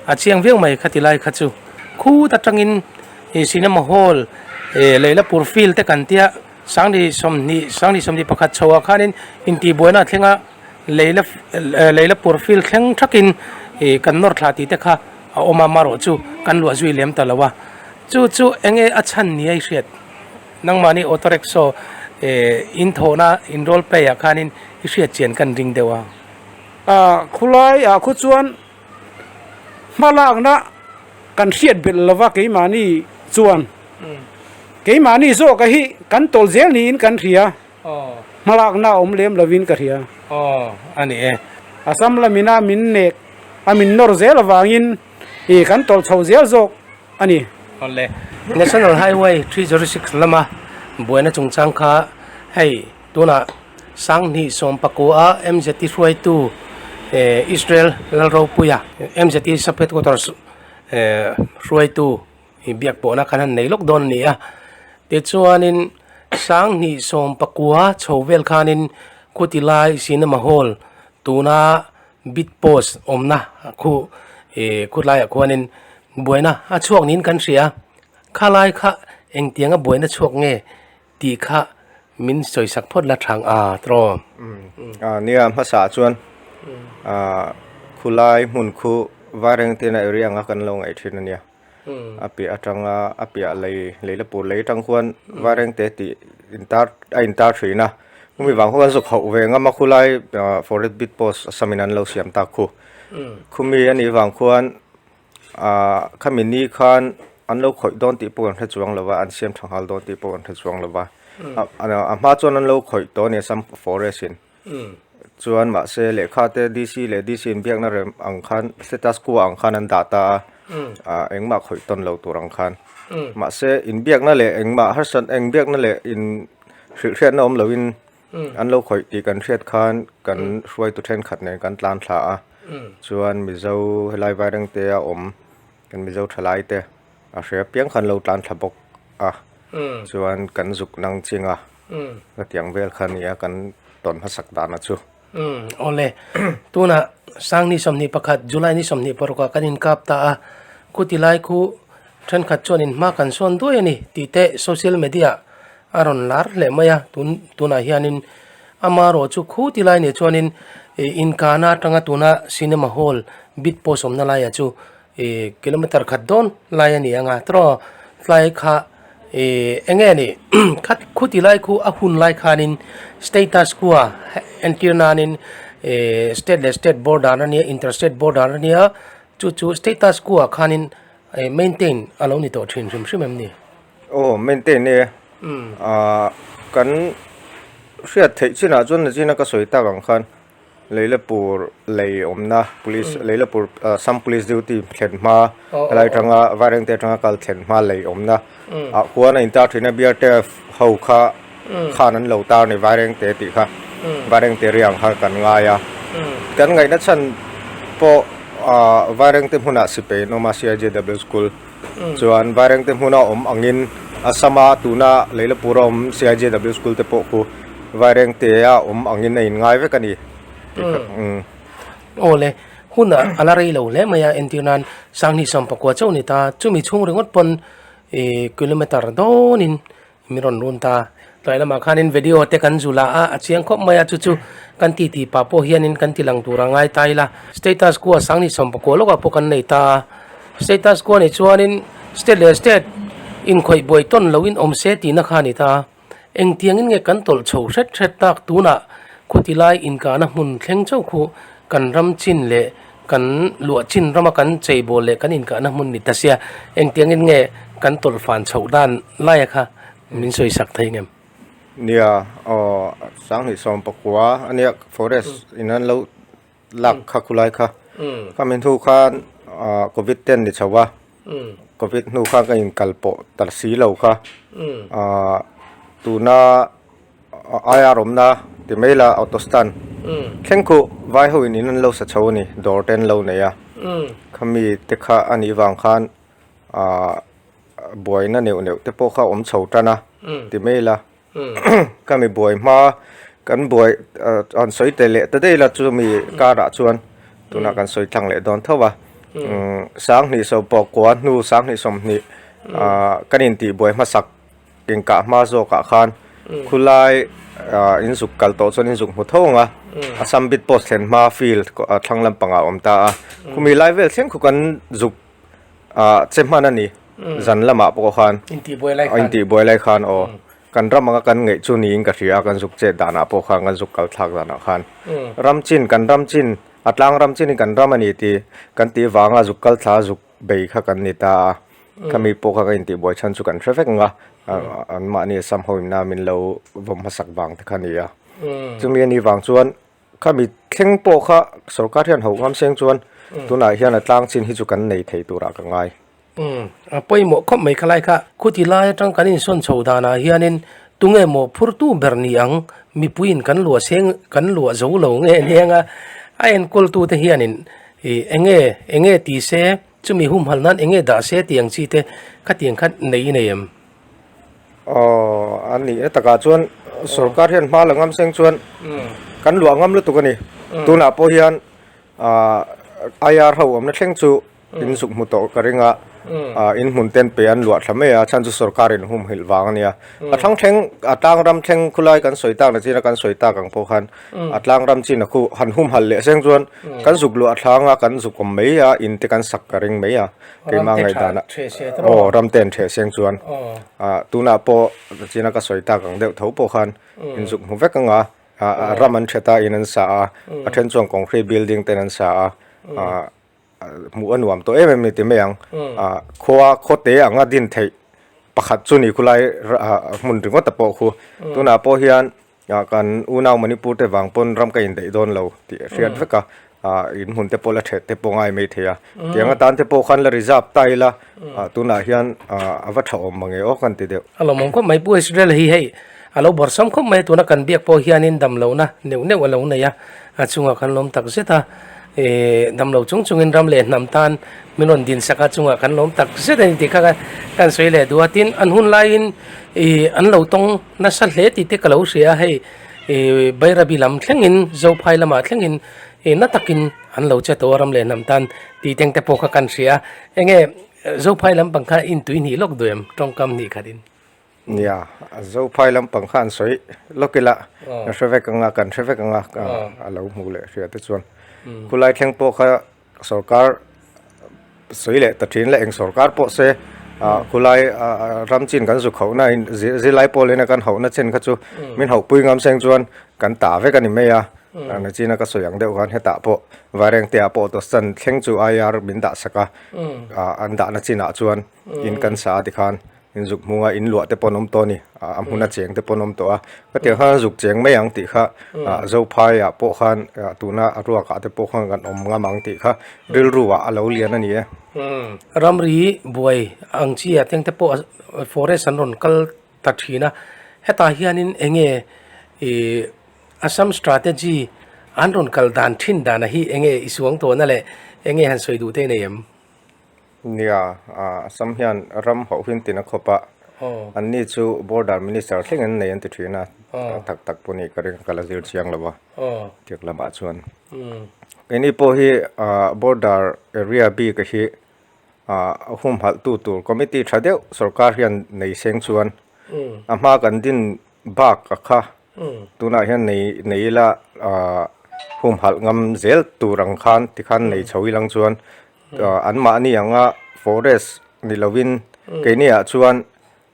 a chiang viau mai kha tilai kha chu khut atangin i cinema hall eh Leilapur field te kan tia sangni sawmhnih sangni sawmhnih pakhat chhoa khanin intihbuaina a thlenga. Leila eh Leila pur feel thleng thakin ih kan nawr thla tih te kha a awm a marawh chu kan luah zui lem ta lo a, chu chu eng nge a chhan ni a i hriat? Nangmahni auto rickshaw eh in thawhna in roll play ah khanin i hriat chian kan ring deuh a. Ah khulai ah khu chuan hma lakna kan hriat belh lo va keimahni chuan keimahni zawk a hi kan tawlh zel niin kan hria. Hmalakna a awm lem lovin ka hria. Aw a ni e. Assam lamina min nek a min nawr zel avangin ih kan tawlh chho zel zawk a ni. Awle. National Highway three zero six lama buaina chungchang kha hei tunah Sanghnih sawmpakuaa MZ i hruaitu Israel lalropuia MZ i Sub Headquarters hruaitu i biak pawhna khan han nei lawk dawn a nia tichuanin sanghnih sawm pakua chho vel khanin khutilai cinema hall tuna bit post awmna khu ihh khutlaiah khuanin buaina a chhuak niin kan hria khalai kha engtianga buaina chhuak nge tih kha min sawisak phawt la thang a tawh nia hmasa chuan khulai hmun khu vairengtiana area anga kan lo ngaih thin a nia. a piah atanga a piah lei lei la pur lei atang khuan vairengte tih intar a intar thin a khumi vang ho an zawk hauh ve ngam a khulai ah forest bit post asamin an lo siam tak khu khumi a nih vang khuan ah khami ni khan an lo khawih dawn tih pawh kan hre chuang lo va an siam tha nghal dawn tih pawh kan hre chuang lo va a hma chuan an lo khawih tawh a ni a sam forest in. Chuan mahse lehkha te DC leh DC in biakna rem ang khan status quo ang khan an dah ta a, ah engmah khawih tawn lo tur ang khan. Mahse inbiakna leh engmah harsa eng biakna leh in hrilhhriatna awm loin an lo khawih tih kan hriat khan kan hruaitu thenkhat nen kan tlan thla a. Chuan Mizo helai Vairengtea awm. Kan Mizo thalai te a hria piang khan lo tlan thla bawk a, chuan kan zuk nang ching a, ka tiang vel kha nia kan tawn hmasak dan a chu. Awle, tunah sang ni sawmhnih pakhat July ni sawmhnih parukah kan inkap ta a, khuti lai khu thenkhat chuan in hma kan sawn duai a ni tih te social media A rawn lar hleh mai a, tun tunah hianin ama erawh chu khu ti lai neh chuanin ih inkahna atanga tuna cinema hall bit pawh sawmna laia chu ih kilometer khat dawn lai a ni ang a taraw tlai kha ih enge anih khat khu ti lai khu a hun lai khanin status khu a entir nanin ih state leh state border ania inter state border ania chu chu status khu ah khanin ih maintain a lo ni tawh thin hrim hrim em ni. Aw maintain e ah kan hriat theih chin ah chuan zin a ka sawi tak ang khan leilapur lei awmna police leilapur assam police duty thlen hma helai atanga vairengte atanga kal thlen hma lei awmna ah huan a intar thin a brtf ho kha khan an lo tar ni Vairengte tih kha Vairengte riang kha kan ngai a, kan ngaihna chhan pawh Vairengte hmunah si peiin awm a CIJW School chuan Vairengte hmuna awm angin Assama tuna Leilapura awm CIJW School te pawh khu Vairengtea awm angin a in ngai vek a ni tih kha Awle huna a la rei lo hle mai a entir nan Sanghnih Sampakua chauh ni ta chumi chhung ringawt pawn kilometre dawnin Min rawn run ta. Tunai lamah khanin video te kan zulh a, a chiang khawp mai a, chu chu kan ti ti pah pawh hianin kan ti lang tur a ngai ta ila. Status kua sang ni sawm pakua lawkah pawh kan nei ta a. Status kua nih chuanin state leh state inkhawih buai tawn loin awm se tihna kha a ni ta a. Engtiangin nge kan tawlh chho hret hret tak tunah khuti lai inkahna hmun thleng chauh khu kan ram chin leh Kan luah chin rama kan cheibawl leh kan inkahna hmun ni ta sia, engtiangin nge kan tawlhfan chhoh dan laia kha min sawi sak thei ngem? Nia, aw, Sanghnih sawmpakua ania forest in an lo lak kha khulai kha, ka mi hnu khan covid te an ni chho a, covid hnu khan ka inkal pawh ta si lo kha, tuna. Ai a rawmna ti mai la auto stand thleng khuh vai ho in in an lo sa chho a ni dawr te an lo nei a khami te kha a nih vang khan buai na neuh neuh te pawh kha awm chho tan a ti mai la khami buai hma kan buai an sawi tel leh ta daih la chu mi kar ah chuan tuna kan sawi thlang leh dawn tho a sanghnih sawmpawh kua hnu sanghnih sawmhnih kan in tih buai hma sak Inkah hma zawkah khan khulai inzuk kal tawh chuan inzuk hmu tho ang a, a sambit post thlen hma field thlang lampangah awm ta a, khumi lai vel thleng khaw kan zuk che hman a ni, zan lamah pawh khan intihbuai lai khan aw kan ram anga kan ngeih chu niin ka hria, kan zuk chet danah pawh khan kan zuk kalthlak danah khan ram chin kan ram chin a tlang ram chin in kan ram a ni tih kan tih vang a zuk kalthla zuk. bei kha kan ni ta a, khami pawh kha ka intihbuai chhan chu kan hre vek ang a, anmahni sam ho inna min lo vawm hmasak vang te kha a ni a, chumi a nih vang chuan khami thleng pawh kha sorkar hian ho ngam seng chuan tunah hian a tlang chin hi chu kan nei thei turah ka ngai. A pawimawh khawp mai khalai kha khuti lai atang kan insawn chho danah hianin tunge maw phurtu ber ni ang mipuiin kan luah seng kan luah zo lo nge nia a enkawltute hianin Hi enge, enge ti se, chumi humhal nan enge dah se tih ang chi te khatiang kha nei i nei em? Aww, a nih na takah chuan sorkar hian hma la ngam seng chuan kan luah ngam lutuk a ni. Tunah pawh hian IR ho awmna thleng chu insuk hmu tawh ka ring a, inhmunten pe an luah thla mai a, a chhan chu sorkar in humhilh vang a nia. A thlang thleng, a tlang ram thleng khulai kan sawi tak na chin a kan sawi tak ang pawh khan a tlang ram chin a khu han hum hal leh seng chuan kan zuk luh a thlang a kan zuk awm mai a in te kan sak ka ring mai a keimah ngaihdan a aw ram te an theh seng chuan ah tunah pawh ka chin a ka sawi tak ang deuh tho pawh khan in zuk hmu vek anga ah ram an that a in an sa a a then chuan concrete building ten an sa a ah hmuh a nuam tawh em em ni ti mai ang ah khua khaw te ang a din theih pakhat chu ni khulai ah hmun ringawt a pawh khu tunah pawh hian A kan unau Manipur te vang pawn ram ka indaih dawn lo tih a hriat vek a, in hun te pawh la ṭhet te pawh ngai mai thei a, tiang atan te pawh khan la reserve ta ila tunah hian a va ṭha awm mange aw kan ti deuh. A lawmawm khawp mai, pu Israel hi hei a lo bawrhsam khawp mai a, tuna kan biak pawh hian in damlo na neuh neuh a lo nei a. A chungah kan lawm tak zet a, ih damlo chung chungin ram leh hnam tan min rawn din sak a, chungah kan lawm tak zet a ni tih kha kan sawi leh duh a, tin an hun laiin ih an lo tawng nasa hle tih te ka lo hria a, hei ih Bairabi lam thlengin Zophai lamah thlengin ih na takin an lo che tawh a ram leh hnam tan tih teng te pawh kha kan hria a, eng nge Zophai lampang kha intui hnih lawk duh em tawngkam hnih khatin. Nia, Zophai lampang kha an sawi lawk ila, ka hre vek anga, kan hre vek anga ka a lo hmuh leh hria te chuan. Khulai thleng pawh kha sorkar sawi leh ta thin la eng sorkar pawh se khulai ram chin kan zu khauh nain zirlai pawh lena kan hauhna chen kha chu min hauh pui ngam seng chuan kan ta vek a ni mai a, na chin a ka sawi ang deuh khan hetah pawh vaireng te ah pawh dos chan thleng chu IR min dahsak a, an dahna chinah chuan in kan sa a tikhan. inzuk hmung a in luah te pawh an awm tawh a ni a hmun a cheng te pawh an awm tawh a ka ti ang kha zuk cheng mai ang tih kha zophai ah pawh khan tuna a ruak ah te pawh khan kan awm ngam ang tih kha rilru ah a lo lian a ni e ramri buai ang chi ah teng te pawh forest an rawn kal ta thin a hetah hian in eng nge ih assam strategy an rawn kal dan thin dan ah hi eng nge i suang tawh na leh eng nge han sawi duh te a nei em? Nia, Assam hian ram hauhin tina khawp a, an ni chu border minister thleng an nei an ti thin a, tak tak pawh nih ka ring ka la zir chiang lo va, Tiak lamah chuan kei ni pawh hi border area bik hi humhalh tu tur committee tha deuh sorkar hian nei seng chuan a hma kan din bak a kha, tunah hian nei nei ila humhalh ngam zel tur ang khan tikhan nei chho ilang chuan an mah ni ang a forest ni lo in keini ah chuan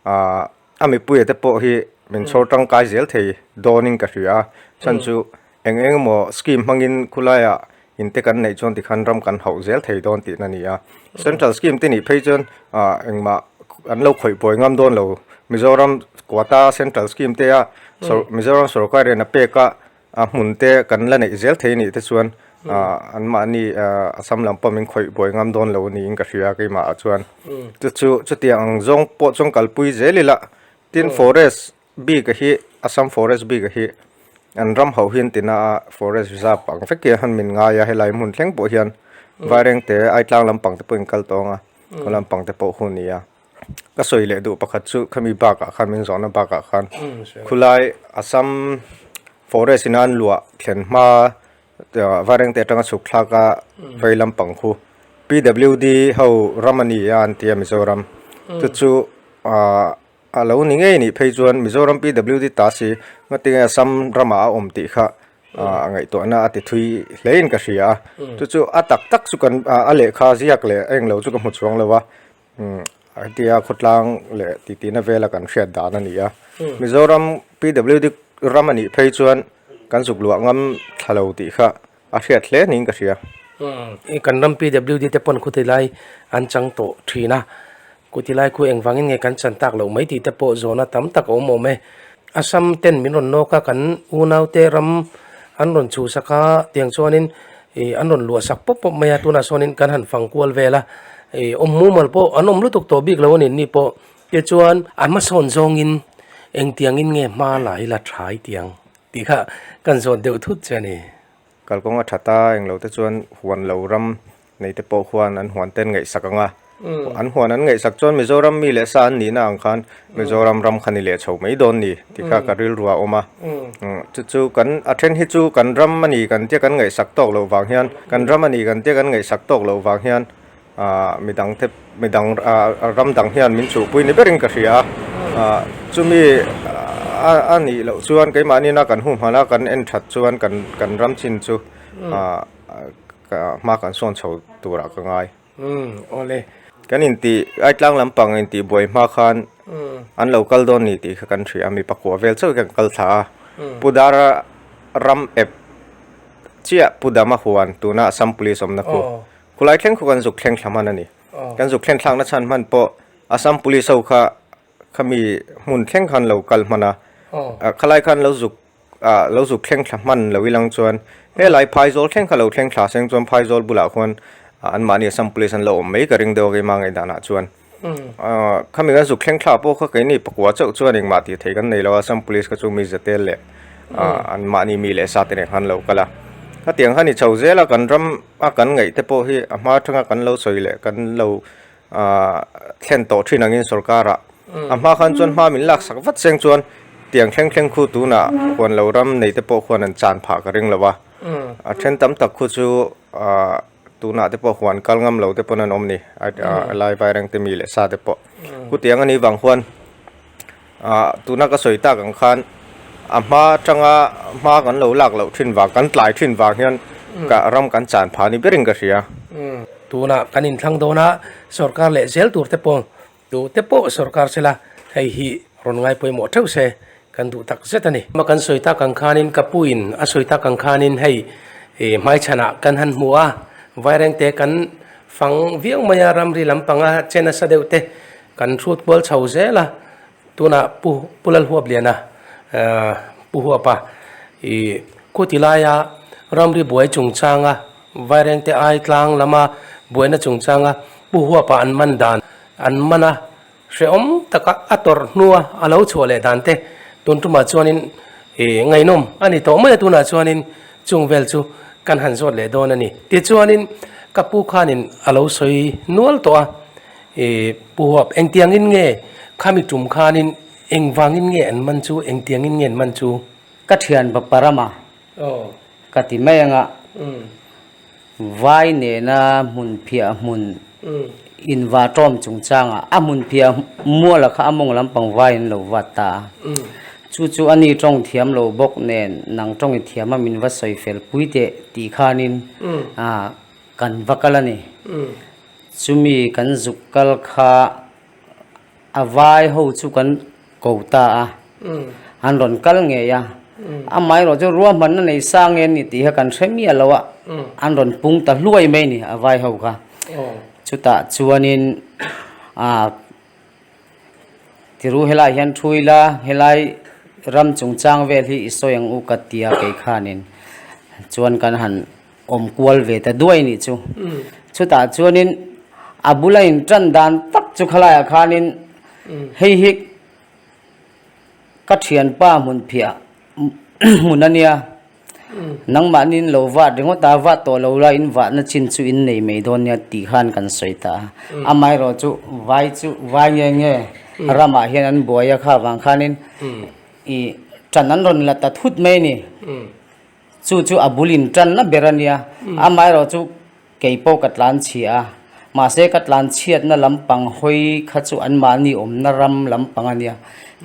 ah a mipui te pawh hi min chhawr tangkai zel thei dawn in ka hria a chhan chu eng eng emaw scheme hmang in khulai ah in te kan neih chuan ti khan ram kan hauh zel thei dawn tih na ni a central scheme te nih phei chuan ah eng mah an lo khawih pawi ngam dawn lo mizoram quota central scheme te a mizoram sorkar in a pek a. A hmunte kan la neih zel thei anih te chuan anmahni Assam lam pawh min khawih buai ngam dawn lo niin ka hria keimahah chuan. Chu chu chutiang ang zawng pawh chuan kalpui zel ila. Tin forest bika hi Assam forest bika hi an ram ho hian tina a forest reserve ang vek hian han min ngai a helai hmun thleng pawh hian vairengte aitlang lampangte pawhin kal tawng a khawlampangte pawh hun nia. ka sawi leh duh pakhat chu khami bakah khan min zawhna bakah khan khulai assam forest ina an luah thlen hma vaireng te atanga chhuk thlak a vei lampang khu pwd ho ram ani a an tia mizoram chu chu ah a lo ni ngei nih phei chuan mizoram pwd ta si ngatin assam ramah a awm tih kha a ngaihtuahna a ti thui hle in ka hria chu chu a tak tak chu kan a lehkha ziak leh a englo chu ka hmu chuang lo a An ti a khawtlang leh tihna vel a kan hriat dan a ni a Mizoram pwd ram a nih phei chuan kan zukluah ngam thla lo tih kha a hriat hle niin ka hria. I kan ram pwd te pawn khawtilai an chang tawh thin a, khawtilai khu eng vangin nge kan chan tak loh mai tih te pawh zawhna tam tak a awm awm e. Assam ten min rawn nawk a, kan unaute ram an rawn chhusak a tiang chuanin ih an rawn luah sak pawp pawp mai a tunah sawnin kan han fang kual vel a ih awm mumal pawh an awm lutuk tawh bik lo a ni ni pawh keh chuan a hmasawn zawngin engtiang in nge hma la ila tha i tiang tih kha kan zawt deuh thut che a ni. Kalkawnga that a englote chuan huan lo ram neite pawh khuan an huan ten ngaihsak ang a. An huan an ngaihsak chuan Mizoram mi leh sa an nihna ang khan Mizoram ram kha ni leh chho mai dawn ni tih kha ka rilru a awm a. Chu chu kan a then hi chu kan ram a ni kan tia kan ngaihsak tawk loh vang hian kan ram a ni kan tia kan ngaihsak tawk loh vang hian midang te midang ram dang hian min chuhpui ni berin ka hria a. Chumi a nih loh chuan keimahnihna kan humhana kan en that chuan kan kan ram chin chu hma kan sawn chho turah ka ngai. Umm awle kan intih ai tlang lampang a intih buai hma khan an lo kal dawn ni tih kha kan hria, mi pakua vel chauh hi kan kal thla a, Pu Dara ram ep chiah Pu Dama huan tuna Assam Police awmna khu khulai thleng khaw kan zuk thleng thla hman a ni. Kan zuk thleng thlakna chhan hman pawh Assam Police ho kha kha mi hmun thleng kha an lo kal hman a, khalai kha an lo zuk. ah lo zuk thleng thla hman lo i lang chuan helai phaizawl thleng kha lo thleng thla seng chuan phaizawl bulah khuan an mahni assam police an lo awm mai ka ring deuh a keima ngaih dan ah chuan khami kan zuk thleng thla pawh kha keini pakua chauh chuan engmah tih theih kan nei lo a assam police kha chu mi zate leh an mahni mi leh sa te nen kha an lo kal a hetiang kha ni chho zel a kan ram a kan ngaih te pawh hi a hma thanga kan lo sawi leh kan lo thlen tawh thin angin sorkara a hma khan chuan hma min lak sak vat seng chuan tiang thleng thleng khu tuna huan lo ram nei te pawh khuan an chan phah ka ring lo va a then tam tak khu chu ah tunah te pawh huan kal ngam lo te pawn an awm a ni a laivai rengte mi leh sa te pawh khutiang a nih vang khuan. Ah, tuna ka sawi tak ang khan a hma atanga hma kan lo lak loh thin vang, kan tlai thin vang hian ka ram kan chan pha ni berin ka hria. Tuna kan inthlang dawn a, sorkar leh zel tur te pawng duh te pawh sorkar sela hei hi rawn ngai pawimawh theuh se kan duh tak zet a ni. Hma kan sawi tak ang khanin ka pu in a sawi tak ang khanin hei hmaichhanah kan han hmu a, Vairengte kan fang viau mai a, ramri lampanga che nasa deuh te, Kan hrut kual chho zel a, tunah Pu Pu Lalhuapliana Pu Huapa i khuti laia ramri buai chungchanga Vairengte ai tlang lama buaina chungchanga Pu Huapa an man dan an man a, hrehawm taka a tawrh hnua a lo chhuah leh dan te tun tumah chuanin ngaihnawm a ni tawh mai a, tunah chuanin chung vel chu kan han zawt leh dawn a ni. Tichuanin ka pu khanin a lo sawi nual tawh a. E, Pu Huap, engtiangin nge khami tum khanin engvangin nge an man chu, engtiangin nge an man chu? Ka thianpa Parama, ka ti mai anga vai nena hmun phiah hmun in va tawm chungchanga a hmun phiah muala kha a mawng lampang vai an lo vat ta a, chu chu a ni tawng thiam lo bawk nen nang tawng i thiam a min va sawi fel pui teh tih khanin Kan va kal a ni. Chumi kan zuk kal kha a vai ho chu kan ko ta a, an rawn kal ngei a. Amah erawh chu ruahmanna nei sa nge ni tih kha kan hre miah loh a, an rawn pung ta hluai mai a ni a vai ho kha. Chutah chuanin Tiru helai hian thu ila, helai ram chungchang vel hi i sawi ang u ka ti a kei khanin chuan kan han awm kual ve ta duai nih chu. Chutah chuanin a bula in tan dan tak chu khalaiah khanin hei hi ka thianpa hmunphiah hmun a nia. Nangmahni in lo vat ringawt a, vat tawh lo la in vatna chin chu in nei mai dawn nia tih khan kan sawi ta a. Amaherawh chu vai chu vai nge nge ramah hian an buai a kha vang khanin i ṭan an rawn la ta thut mai a ni. Chu chu a bul in ṭanna ber a nia. Amaherawh chu. Kei pawh ka tlan chhia a, mahse ka tlan chhiatna lampang hawi kha chu an mahni awmna ram lampang a nia.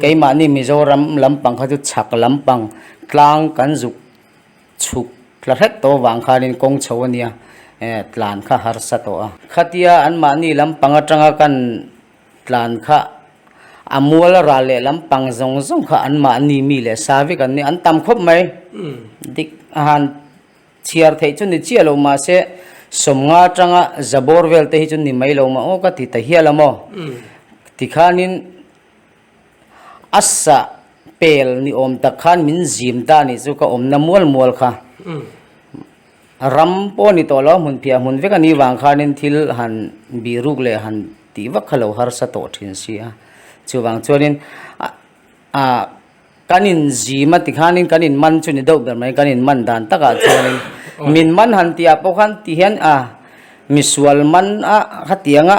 Kei mahni Mizoram lampang kha chu chhak lampang tlang kan zuk chhuk hla hret tawh vang khanin kawng chho a nia tlan kha harsa tawh a. Khatia an mahni lampang atanga kan tlan kha a mual a ral leh lampang zawng zawng kha an mahni mi leh savik an ni. An tam khawp mai. Dik a han Chhiar theih chu ni chiah lo mahse sawmnga tanga Zabor vel te hi chu ni mai lo mah aw ka ti ta hial a maw? Tikhanin a sa pel ni awm tak khan min zim ta nih chu ka awmna mual mual kha ram pawh a ni tawh lo a hmun phiah hmun vek a nih vang khanin thil han bih ruk leh han tih vak kha lo harsa tawh thin si a. Chuvang chuanin a. Kan inzim a ti khanin kan inman chu ni deuh ber mai, kan inman dan takah chuanin min man han tihah pawh khan ti hian a misual man a khatianga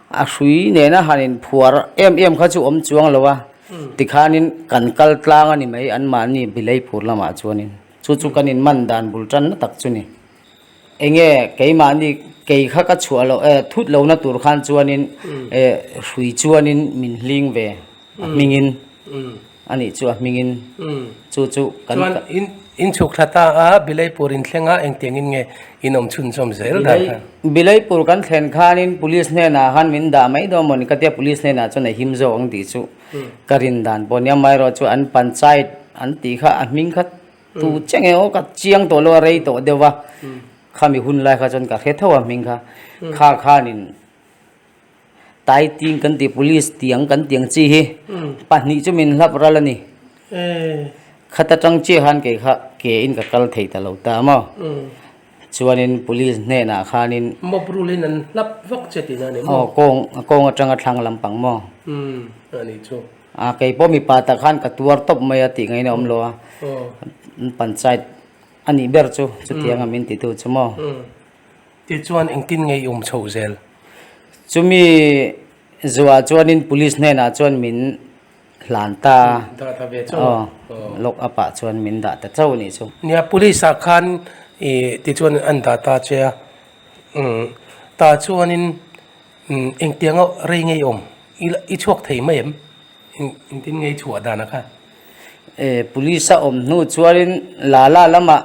a hrui nena han inphuar em em kha chu awm chuang lo a ti khanin kan kal tlang a ni mai anmahni Bilei phur lamah chuanin chu chu kan inman dan bul tanna tak chu ni. Enge keimahni kei kha ka chhuah lo eh, thut lohna tur khan chuanin eh hrui chuanin min hling ve a hmingin a nih chu a hmingin chu chu kan Chuan in in chhuk thla ta a Bilei pur in thlenga engtiangin nge in awm chhunchawm zel dan kha? Bilei pur kan thlen khanin Police hnenah khan min dah mai dawn maw ni ka tia Police hnenah chuan a him zawk ang tih chu ka rin dan pawh nia amaherawhchu an Panchayat an tih kha a hming kha Tu che nge aw ka chiang tawh lo a rei tawh deuh va, khami hun lai kha chuan ka hre tho a hming kha, kha khanin Taiting kan tih police tih ang kan tih ang chi hi pahnih chu min hlap ral a ni, khata chang chiah khan kei kha ke in ka kal thei ta lo ta a maw, chuanin police hnenah khanin aw kawng kawng atanga thlang lampang maw. A keipawh mipa tak khan ka tuar tawp mai a tih ngeiin a awm lo a, an panchayat a nih ber chu chutiang a min titu chu maw. Ti chuan engtin nge i awm chho zel? Chumi zuah chuanin police hnenah chuan min hlan ta a. Dah ta ve chauh? Aw, lock up ah chuan min dah ta chauh a nih chu. Nia, police ah khan i ti chuan an dah ta che a, ta chuanin. Engtianga rei ngei awm? I chhuak thei mai em? Engtin ngei chhuah dan a kha? Police a awm hnu chuanin Lala lama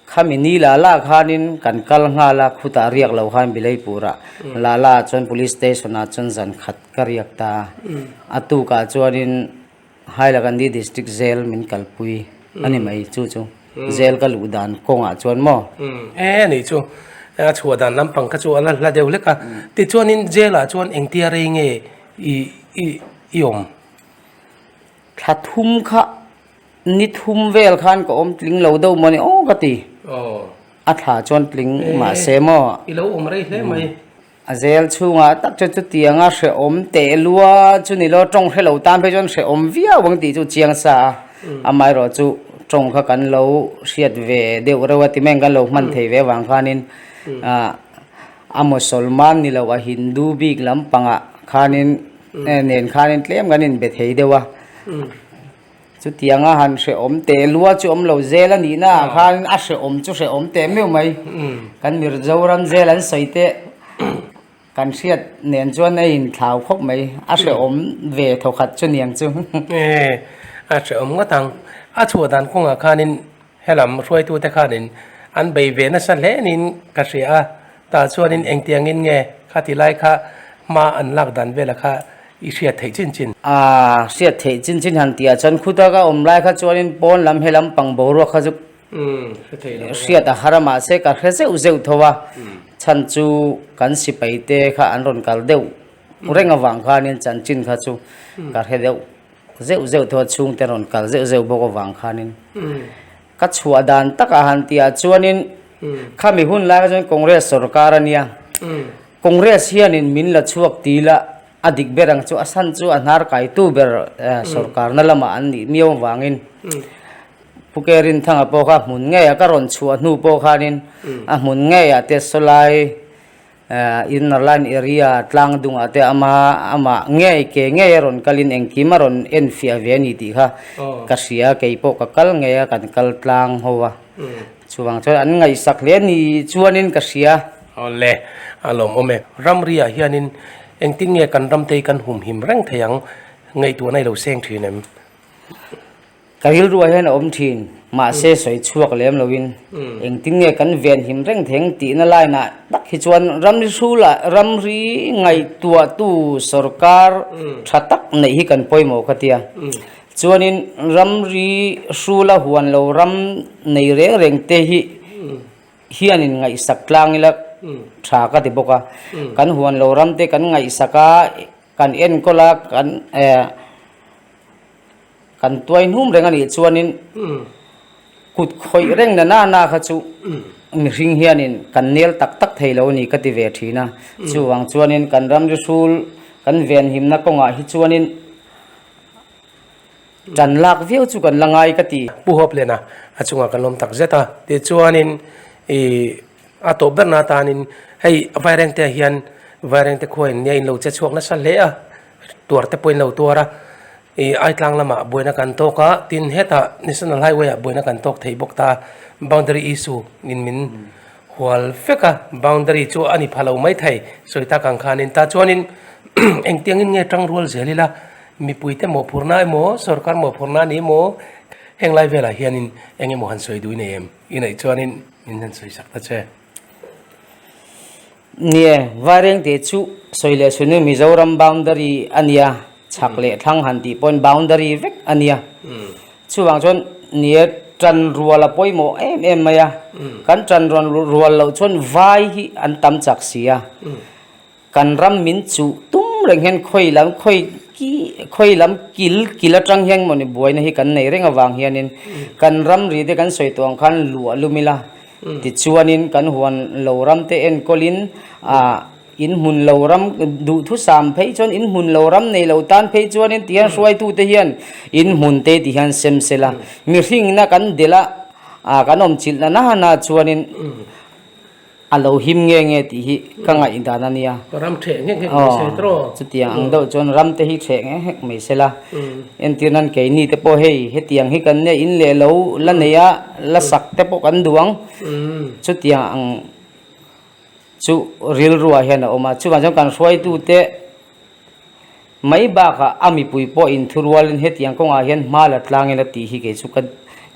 khami ni Lala khanin kan kal nghal a, khutah riak lo khan Bilei Pura. Lala chuan Police Station ah chuan zan khat ka riak ta a. A tukah chuanin. Hailakandi District Jail min kalpui a ni mai chu chu jail ka luh dan kawngah chuan maw? E ni chu a chhuah dan lampang kha chu a la hla deuh hlek a, tichuanin jail ah chuan engtia rei nge i i i awm? Thla thum kha ni thum vel khan ka awm tling lo deuh maw ni aw ka ti, a thla chuan tling mahse maw? A zel chhungah tak chuan chutiang a hrehawm teh lua chu ni lo, tawng hrelo tan phei chuan hrehawm viau ang tih chu chiang sa a, amaherawh chu tawng kha kan lo hriat ve deuh reuh a, ti mai ang kan lo hman thei ve vang khanin ahh a Musalman ni loh a Hindu bik lampangah khanin nen khanin tlem kan inbe thei deuh a. Chutianga han hrehawm teh lua chu awm lo zel a nih naah khan a hrehawm chu hrehawm teh meuh mai. Kan Mirzoram zel an sawi teh kan hriat nen chuan a in thlau khawp mai. A hrehawm ve thawkhat chu niang chu. A hrehawm ngawt ang. A chhuah dan kawngah khanin. Helam hruaitute khanin an bei ve nasa hle niin ka hria a, tah chuanin engtiangin nge kha ti lai kha hma an lak dan vela kha i hriat theih chin chin. A hriat theih chin chin han tihah chuan khutak a awm lai kha chuanin pawn lam he lam pang boruak kha chu hriat a har a, mahse ka hre zeuh zeuh tho a, chhan chu kan sipaite kha an rawn kal deuh reng avang khanin chanchin kha chu ka hre deuh. zeuh zeuh tawh a chhungte rawn kal zeuh zeuh bawk avang khanin ka chhuah dan takah han tihah chuanin khami hun laia chuan congress sorkar a nia congress hianin min la chhuak ti ila a dik ber ang chu a san chu a hnar kaitu ber sorkarna lamah an nih miau avangin pu kerinthanga pawh kha hmun ngeia ka rawn chhuah hnu pawh khanin a hmun ngeia test saw lai. Inner line area tlang dungah te ama amah ngei ke ngei a rawn kalin engkim a rawn en fiah ve a ni tih kha ka hria, kei pawh ka kal ngei a kan kal tlang ho a, chuvang chuan an ngaihsak hle ni chuanin ka hria. Awle, a lawm awm e. Ramriah hianin engtin nge kan ramtei kan humhim reng thei ang? Ngaihtuahna i lo seng thin em? Ka rilruah hian a awm thin, mahse sawi chhuak lem loin engtin nge kan venhim reng theng tihna line ah tak hi chuan ramri hru lah ramri ngaihtuahtu sorkar tha tak neih hi kan pawimawh kha tia. Chuanin ramri hru la huan lo ram nei reng reng te hi hianin ngaihsak tlang ila tha ka ti bawk a. Kan huan lo ram te kan ngaihsak a, kan enkawl a, kan eh. Kan tuai hnum reng a nih chuanin kut khawih reng na nana kha chu mihring hianin kan nel tak tak thei lo a ni ka ti ve thin a. Chuvang chuanin kan ram ri hrul kan venhimna kawngah hi chuanin tan lak viau chu kan la ngai ka ti. Pu Hawplena a chungah kan lawm tak zet a. Tichuanin a tawp berna atanin hei vairengte hian vairengte khuain nia inlo che chhuak nasa hle a. tuar te pawhin lo tuar a ih ai tlang lamah buaina kan tawk a tin hetah national highway ah buaina kan tawk thei bawk ta boundary issue in min hual fek a boundary chu a ni pha lo mai thei sawi tak ang khanin tah chuanin engtiangin nge tang rual zel ila mipuite mawhphurhna emaw sawrkar mawhphurhna a nih maw heng lai velah hianin eng emaw han sawi dui nei em i neih chuanin min han sawisak ta che. Ni e, Vaireng te chu sawi leh suih nui Mizoram boundary a nia, chhak leh thlang han tih pawhin boundary vek a nia. Chuvang chuan ni e, ṭan rual a pawimawh em em mai a, kan ṭan rual loh chuan vai hi an tam chak si a. Kan ram min chuh tum reng hian khawi lam khawi kih khawi lam kil kil atang hian mawni buaina hi kan nei reng avang hianin kan ram ri te kan sawi tuam khan luah lum ila tichuanin kan huan lo ram te enkawlin ah in hmun lo ram duhthusam phei chuan in hmun lo ram nei lo tan phei chuanin ti hian hruaitu te hian in hmun te tih hian sem se la mihringna kan dela ah kan awmchilh na na na chuanin A lo him nge nge tih hi ka ngaih dan a nia. Ram ṭheh nghek nghek mai se trawh. Aw, chutiang ang deuh chuan ram te hi ṭheh nghek nghek mai se la. Entir nan keini te pawh hei, hetiang hi kan nia, in leh lo, la nei a, la sak te pawh kan duh ang. Chutiang ang chu rilruah hian a awm a. Chuvang chuan kan hruaitute. Mai bakah a mipui pawh in thu rualin hetiang kawngah hian hma la tlangin a tih hi kei chu ka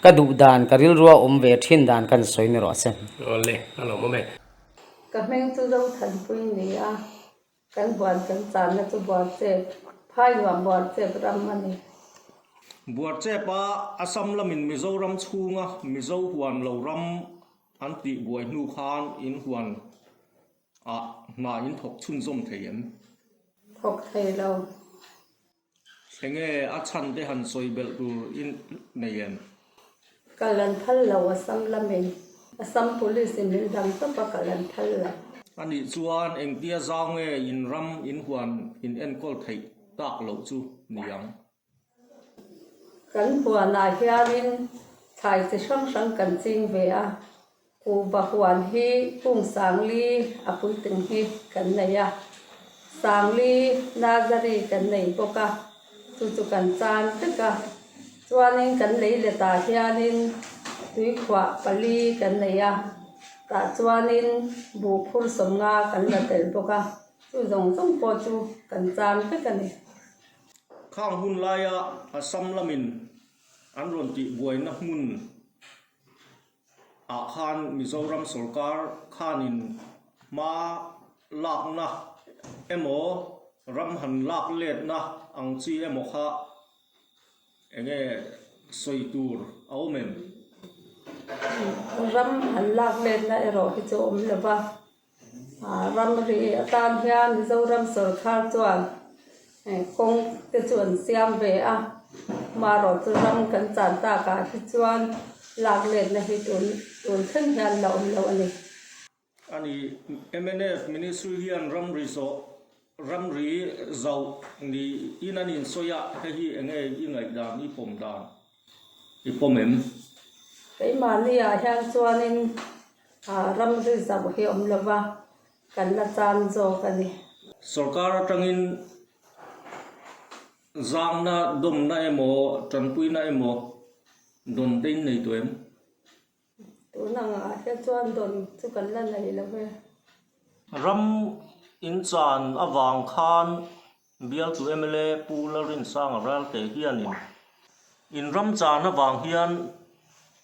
ka duh dan, ka rilru a awm ve thin dan kan sawi ni rawh a sen. Awle, a lo mawm e. Ka hming chu Zothanpui a ni a, kan buan kan channa chu Buarchep, Phainuam Buarchep ram a ni. Buarchep a Assam lamin Mizoram chhunga Mizo huan lo ram an tih buai hnu khan in huan. Ah hma in thawk chhun zawm thei em? Thawk thei lo. Hre nge a chhan te han sawi belh tur in nei em? Ka lan phal lo a sam la mai. A sam police in min dam tawp a ka lan phal lo. A nih chuan engtia zau nge in ram in huan in enkawl theih tak loh chu ni ang? Kan huanah hianin thlai chi hrang hrang kan ching ve a, Kuba huan hi Kungsangli a puitling hi kan nei a, Sangli Nazari kan nei bawk a, chu chu kan chan vek a. Chuanin kan lei letah hianin Tuikhuah pali kan nei a, tah chuanin Buhphur sawmnga kan la tel bawk a, chu zawng zawng pawh chu kan chan vek a ni. Khang hun laia Assam lamin an rawn tih buaina hmun ah khan Mizoram sorkar khan in hma lakna emaw ram han lak letna ang chi emaw kha eng nge sawi tur a awm em? Ram han lak letna erawh hi chu a awm lo va. Ram ri atan hian Mizoram sawrkar chuan kawng te chu an siam ve a, amaherawh chu ram kan chan takah hi chuan lak letna hi tun tun thleng hian la awm loh a ni. A ni. MNF ministry hian ram ri zawh, ram ri zauh niin a insawi a, hei hi eng nge i ngaih dan, i pawm dan? I pawm em? Keimahni ah hian chuan in ram zui zauh hi awm lo va, kan la chan zawk a ni. Sorkar atang in zangna dawmna emaw tanpuina emaw dawn tein nei tawh em? Tuna angah te chuan dawn chu kan la neih lo e. Ram in chan avang khan Bialtu mla Pu Lalrinsanga Ralte hianin in ram chan avang hian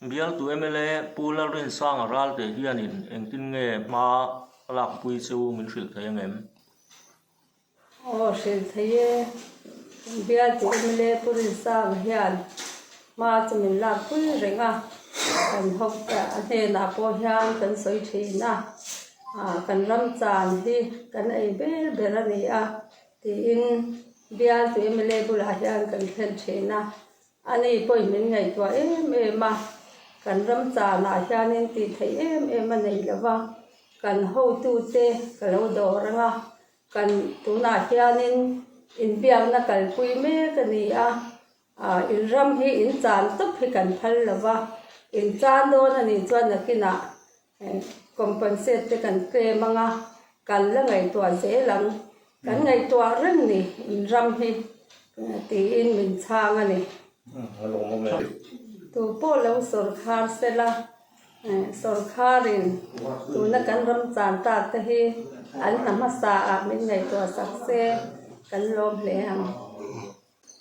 Bialtu mla Pu Lalrinsanga Ralte hianin engtin nge hma a lakpui chu min hrilh thei angem? Aw hril thei e, Bialte mla purin sanga hian hma chu min lakpui reng a, kan hawkte a hnenah pawh hian kan sawi thin a, kan ram chan hi kan ei ber ber a ni a tiin Bialte mla bulah hian kan thlen thin a, ani pawhin min ngaihtuah em em a, kan ram chanah hianin tih theih em em a nei lova, kan hotute ka lo dawr anga. Kan tunah hianin inbiakna kalpui mek a ni a, in ram hi in chan tawp hi kan phal lo va, in chan dawn a nih chuan nakinah compensate te kan claim ang a, kan la ngaihtuah zel ang, kan ngaihtuah reng ni in ram hi tiin min chhang a ni. Tupawh lo sawrkhar sela. Sorkarin tuna kan ram chan tak te hi an hna hmasa ah min ngaihtuah sak se kan lawm hle ang.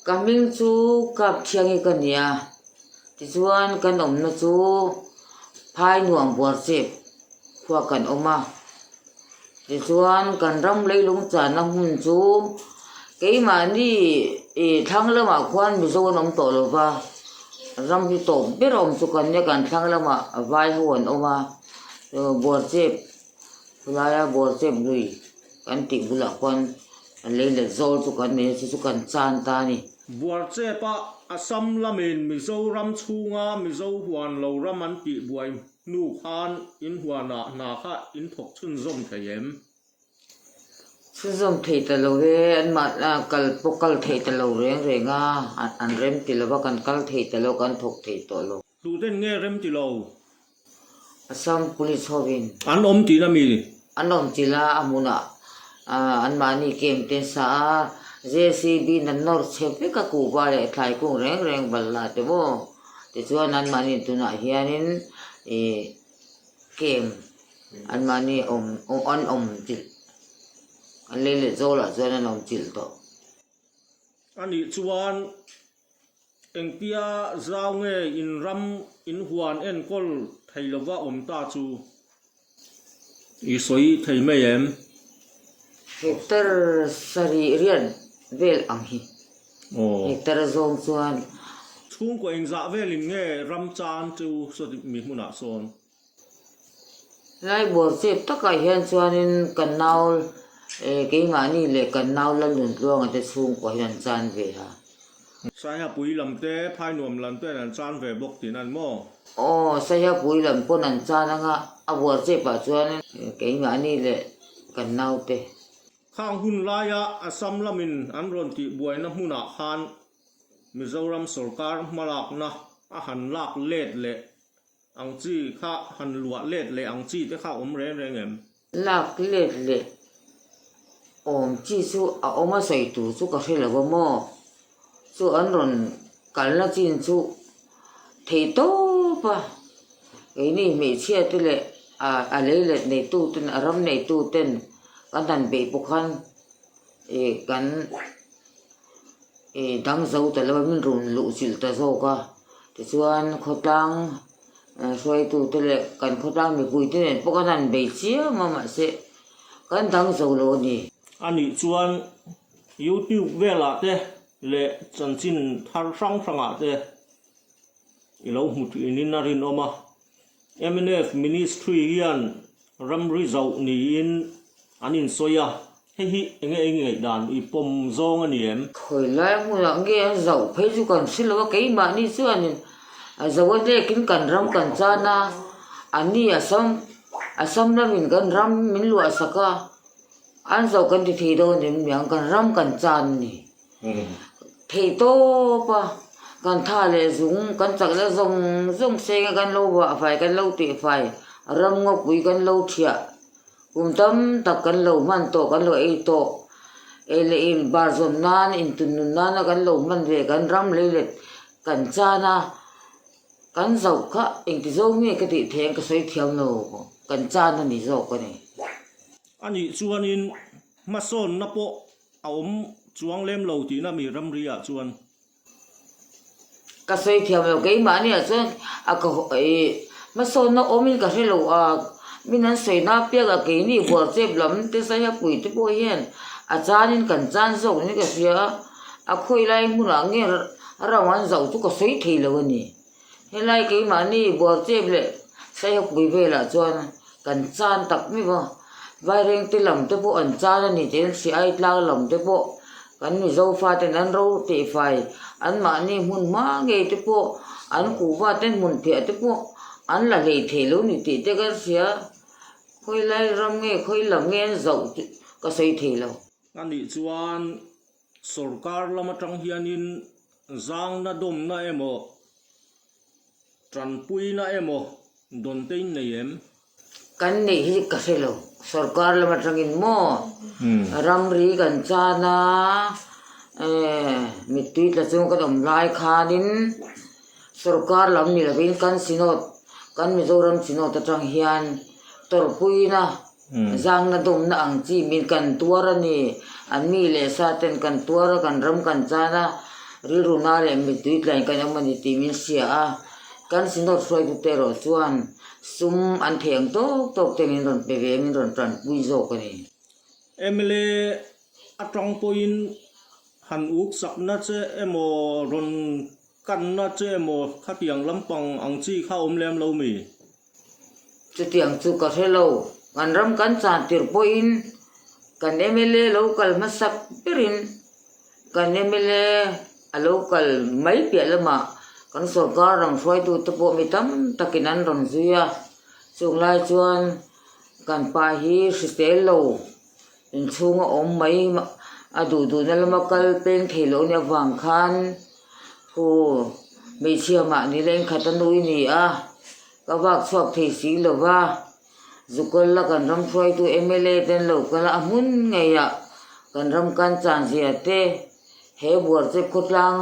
Ka hming chu Kap Thiangi ka ni a, tichuan kan awmna chu Phainuam Buarchip khuakan awm a. Tichuan, kan ram leilung chahna hmun chu keimahni ih thlang lamah khuan Mizo an awm tawh lova, ram hi tawp ber awm chu kan nia kan thlang lamah vai ho an awm a, Buarchep khulaia Buarchep lui kan tih bulah khuan lei let zawl chu kan nei a, chu chu kan chan ta a ni. Buarchep-a Assam lamin Mizoram chhunga Mizo huan lo ram an tih buai. Hnu khan in huanah hna kha in thawk chhun zawm thei em? Chhun zawm thei ta lo e, anmah kal pawh kal thei ta lo reng reng a, an rem ti lo va, kan kal thei ta lo, kan thawk thei tawh lo. Hluhden nge rem ti lo? Assam Police hovin. An awm tihna mi An awm chilh a, a hmunah anmahni kem te an sa a, JCB in an nawr chhe vek a, kuhva leh thlaikung reng reng bal la te maw? Tichuan anmahni tunah hianin kem anmahni awm, an awm chilh, an lei leh zawlah chuan an awm chilh tawh. Anih chuan Engtia zau nge in ram in huan enkawl thei lova awm ta chu i sawi thei mai em? Hector sarih riat vel ang hi. Hector a zawng chuan. Chhungkaw engzah velin nge ram chan chu sawi mi hmunah sawn? Lai buar chep takah hian chuanin ka nau eh keimahni leh ka nau Lalun Tluanga te chhungkaw hi an chan ve a. Saihapuii lam te, Phainuam lam te an chan ve bawk tiin an maw? Aw, Saihapuii lam pawn an chan anga a buar chepah chuanin eh keimahni leh ka nau te. Khang hun laia Assam lamin an rawn tih buaina hmunah khan Mizoram sorkar hmalakna a han lak let leh Ang chi kha han luah let leh ang chi te kha awm reng reng em? Lak let leh awm chi chu a awm a sawi tur chu ka hre lo a maw? Chu an rawn kalna chin chu thei tawp a, keini hmeichhia te leh a lei let nei tu ten a ram nei tu ten kan han beih pawh khan Ih kan ih dang zo ta lo a, min rawn luhchilh ta zawk a, tichuan khawtlang hruaitute leh kan khawtlang mipuite nen pawh kan han bei chiang a mahse kan dang zo lo a ni. A nih chuan YouTube velah te leh chanchin thar hrang hrangah te i lo hmu thin in a rinawm a. MNF Ministry hian ramri zoh niin an insawi a, hei hi eng nge eng ngeih dan i pawm zawng a ni em? Khawi lai hmunah nge an zoh phei chu kan hre lo a, keimahni chuanin a zoh a dekin kan ram kan chan a, a ni a sam a sam lamin kan ram min luahsak a, an zoh kan ti thei dawn em ni ang, kan ram kan chan a ni. Theih tawp a, kan tha leh zung, kan chak leh zawng zawng senga kan lo vah fai, kan lo teh fai, ramngawkpui kan lo thiah, kum tam tak kan lo hman tawh, kan lo ei tawh, ei leh in bar zawm nan, in tun nun nana kan lo hman ve, kan ram lei let kan chan a, kan zauh kha engtizo nge ka tih theih ang ka sawi thiam lo, kan chan a ni zawk a ni. Anih chuanin hmasawnna pawh A awm chuang lem lo tihna a mi ramri ah chuan. Ka sawi thiam lo keimahni ah chuan a ka haw e. Hmasawnna awm in ka hre lo a, min an sawi na piak a keini buarchep lam te saia pui te pawh hian a chan in kan chan zawk ni ka hria a. A khawi lai hmun ah nge rau an zauh chu ka sawi thei lo a ni. Helai keimahni buarchep leh saihawkbui velah chuan kan chan tak miv a, Vairengte lam te pawh an chan a ni tiin Siai tlang lam te pawh kan Mizo faten an ro teh fai, anmahni hmun hma ngei te pawh an kuhvaten hmun phiah te pawh an la hlei thei lo ni tih te kan hria, khawi lai ram nge khawi lam nge an zauh tih ka sawi thei lo. Anih chuan sorkar lam atang hianin Zangna dawmna emaw, tanpuina emaw dawnteiin nei em? Kan neih hi ka hre lo. Sorkar lam atangin maw? Ramri kan chan a, mittui tla chung kan awm lai khanin sorkar lam ni lovin kan Synod, kan Mizoram Synod atang hian tawrhpuina Zangna dawmna ang chi min kan tuar a ni. An mi leh sa ten kan tuar a, kan ram kan chan a, rilruna leh mittui tlain kan awm a ni tih min hria a. Kan Synod hruaitute erawh chuan sum an thei ang tawk tawk te min rawn pe ve a, min rawn tanpui zawk a ni. Emily atang pawhin han uk sakna che emaw, rawn kanna che emaw khatiang lampang ang chi kha awm lem lo mi? Chutiang chu ka hre lo. Kan ram kan chah tirh pawhin kan mla lo kal hmasak berin kan mla a lo kal mai piah lamah kan sawrkar rang hruaitute pawh mi tam takin an rawn zui a, chunglai chuan kan pa hi hritel lo Inchhung a awm mai a duh duhna lama kal peng thei loh ania vang khan khu hmeichhia mah nila inkhat a nui ni a, ka vak chhuak thei si lo va, Zukawr la kan ram hruaitu mla ten lo kala a hmun ngeiah kan ram kan chanzia te He buar che khawtlang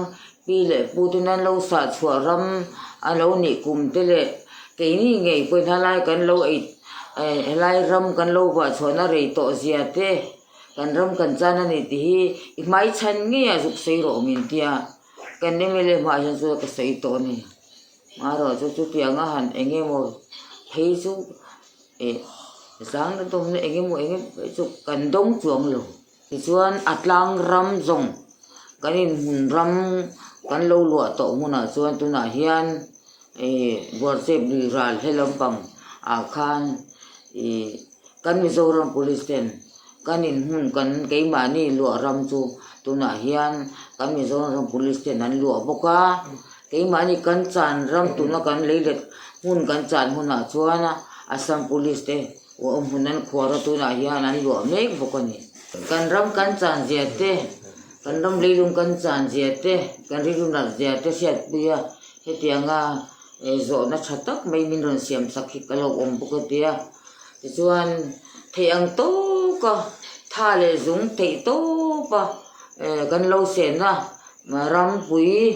pi leh pu ten an lo sah chhuah ram a lo nih kum te leh keini ngei pawhin halai kan lo ei helai ram kan lo vah chhuahna rei tawh zia te kan ram kan chan a ni tih hi i hmai chhan ngei a zuk sawi rawh min tia kan mla hmah hian chu ka sawi tawh a ni marawh chu chutiang a han eng emaw phei chu e zang na dawm na eng emaw eng emaw phei chu kan dawng chuang lo. Tichuan a tlang ram zawng kan inhmun ram kan lo luah tawh hmunah chuan tunah hian Buarchep lui ral he lampang ah khan kan Mizoram Police ten kan inhmun kan keimahni luah ram chu tunah hian kan Mizoram Police ten an luah bawk a, keimahni kan chan ram tuna kan lei let hmun kan chan hunah chuan Assam Police te, Khua awm hun an khuara tunah hian an luah mek bawk a ni. Kan ram kan chan zia te, kan ram leilung kan chan zia te, kan rilru nalh zia te hriatpui a, hetianga zawhna tha tak mai min rawn siam sak hi ka lo awm bawk a tia. Tichuan theih ang tawka tha leh zung theih tawpa kan lo sen a, rampuii,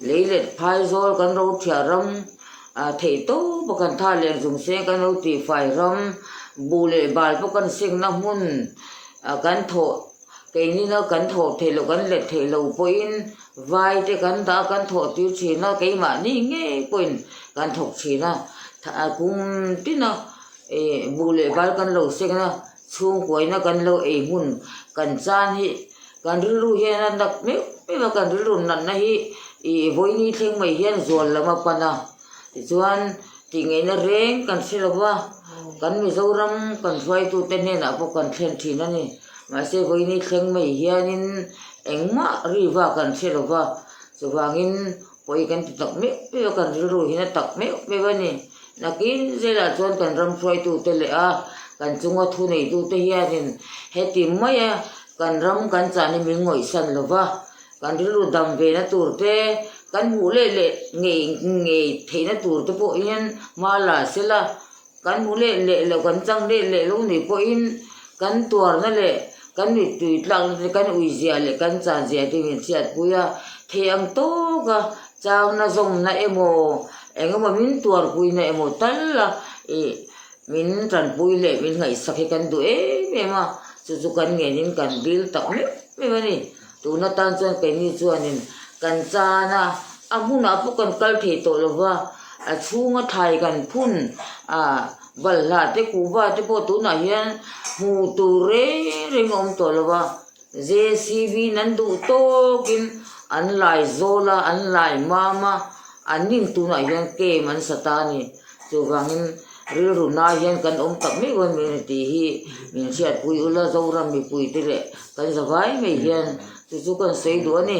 lei let phaizawl kan rophiah ram, A theih to pawh kan tha lem chung se kan lo tih fai ram, buh leh bal pawh kan sikna hmun ah kan thawh keini na kan thawh theih lo kan let theih lo pawhin vai te kan dah kan thawh tir thin a keimahni ngei pawhin kan thawk thin a, kung tina buh leh bal kan lo sikna. Chhungkuaina kan lo ei hmun kan chan hi kan rilru hian a nat meuh meuh a, kan rilru natna hi ih vawiini thleng mai hian zual lam a pan a, tichuan tihngeihna reng kan hre lo va, kan Mizoram kan hruaitute hnenah pawh kan thlen thin a ni, mahse vawiini thleng mai hianin engmah riva kan hre lo va, chuvangin. Pawhi kan ti tak meuh meuh a, kan rilru hi na tak meuh meuh a ni. Nakin zela chuan kan ram hruaitute leh a kan chunga thu neitute hianin heti mai a kan ram kan chahni min ngawihsan lo va, kan rilru dam ve na tur te, kan hmuh leh leh ngei ngei theihna tur te pawh hian hma la sela, Kan hmu let leh lo, kan chang let leh lo nei pawhin kan tuarna leh kan mittui tlakna te, kan ui zia leh kan chan zia te hian chhiatpui a, thei ang tawka changna zawmna emaw, engemaw min tuarpuina emaw tal la ih min tanpui leh min ngaihsak hi kan duh em em a, chu chu kan ngen in kan dil tak meuh meuh a ni. Tuna tan chuan keini chuanin kan chan a, a hmunah pawh kan kal thei tawh lo va, a chhunga thlai kan phun a, balhla te kuhva te pawh tunah hian hmuh tur reng reng a awm tawh lo va, JCB-in an duh tawkin an laizawl a, an laimam a. An ning tunah hian came an sa ta a ni. Chuvangin, rilru nai hian kan awm tak mai uaih mai a ni tih hi min hriatpui ul a, Zoram mipuite leh kan zavai mai hian chu chu kan sawi duh a ni.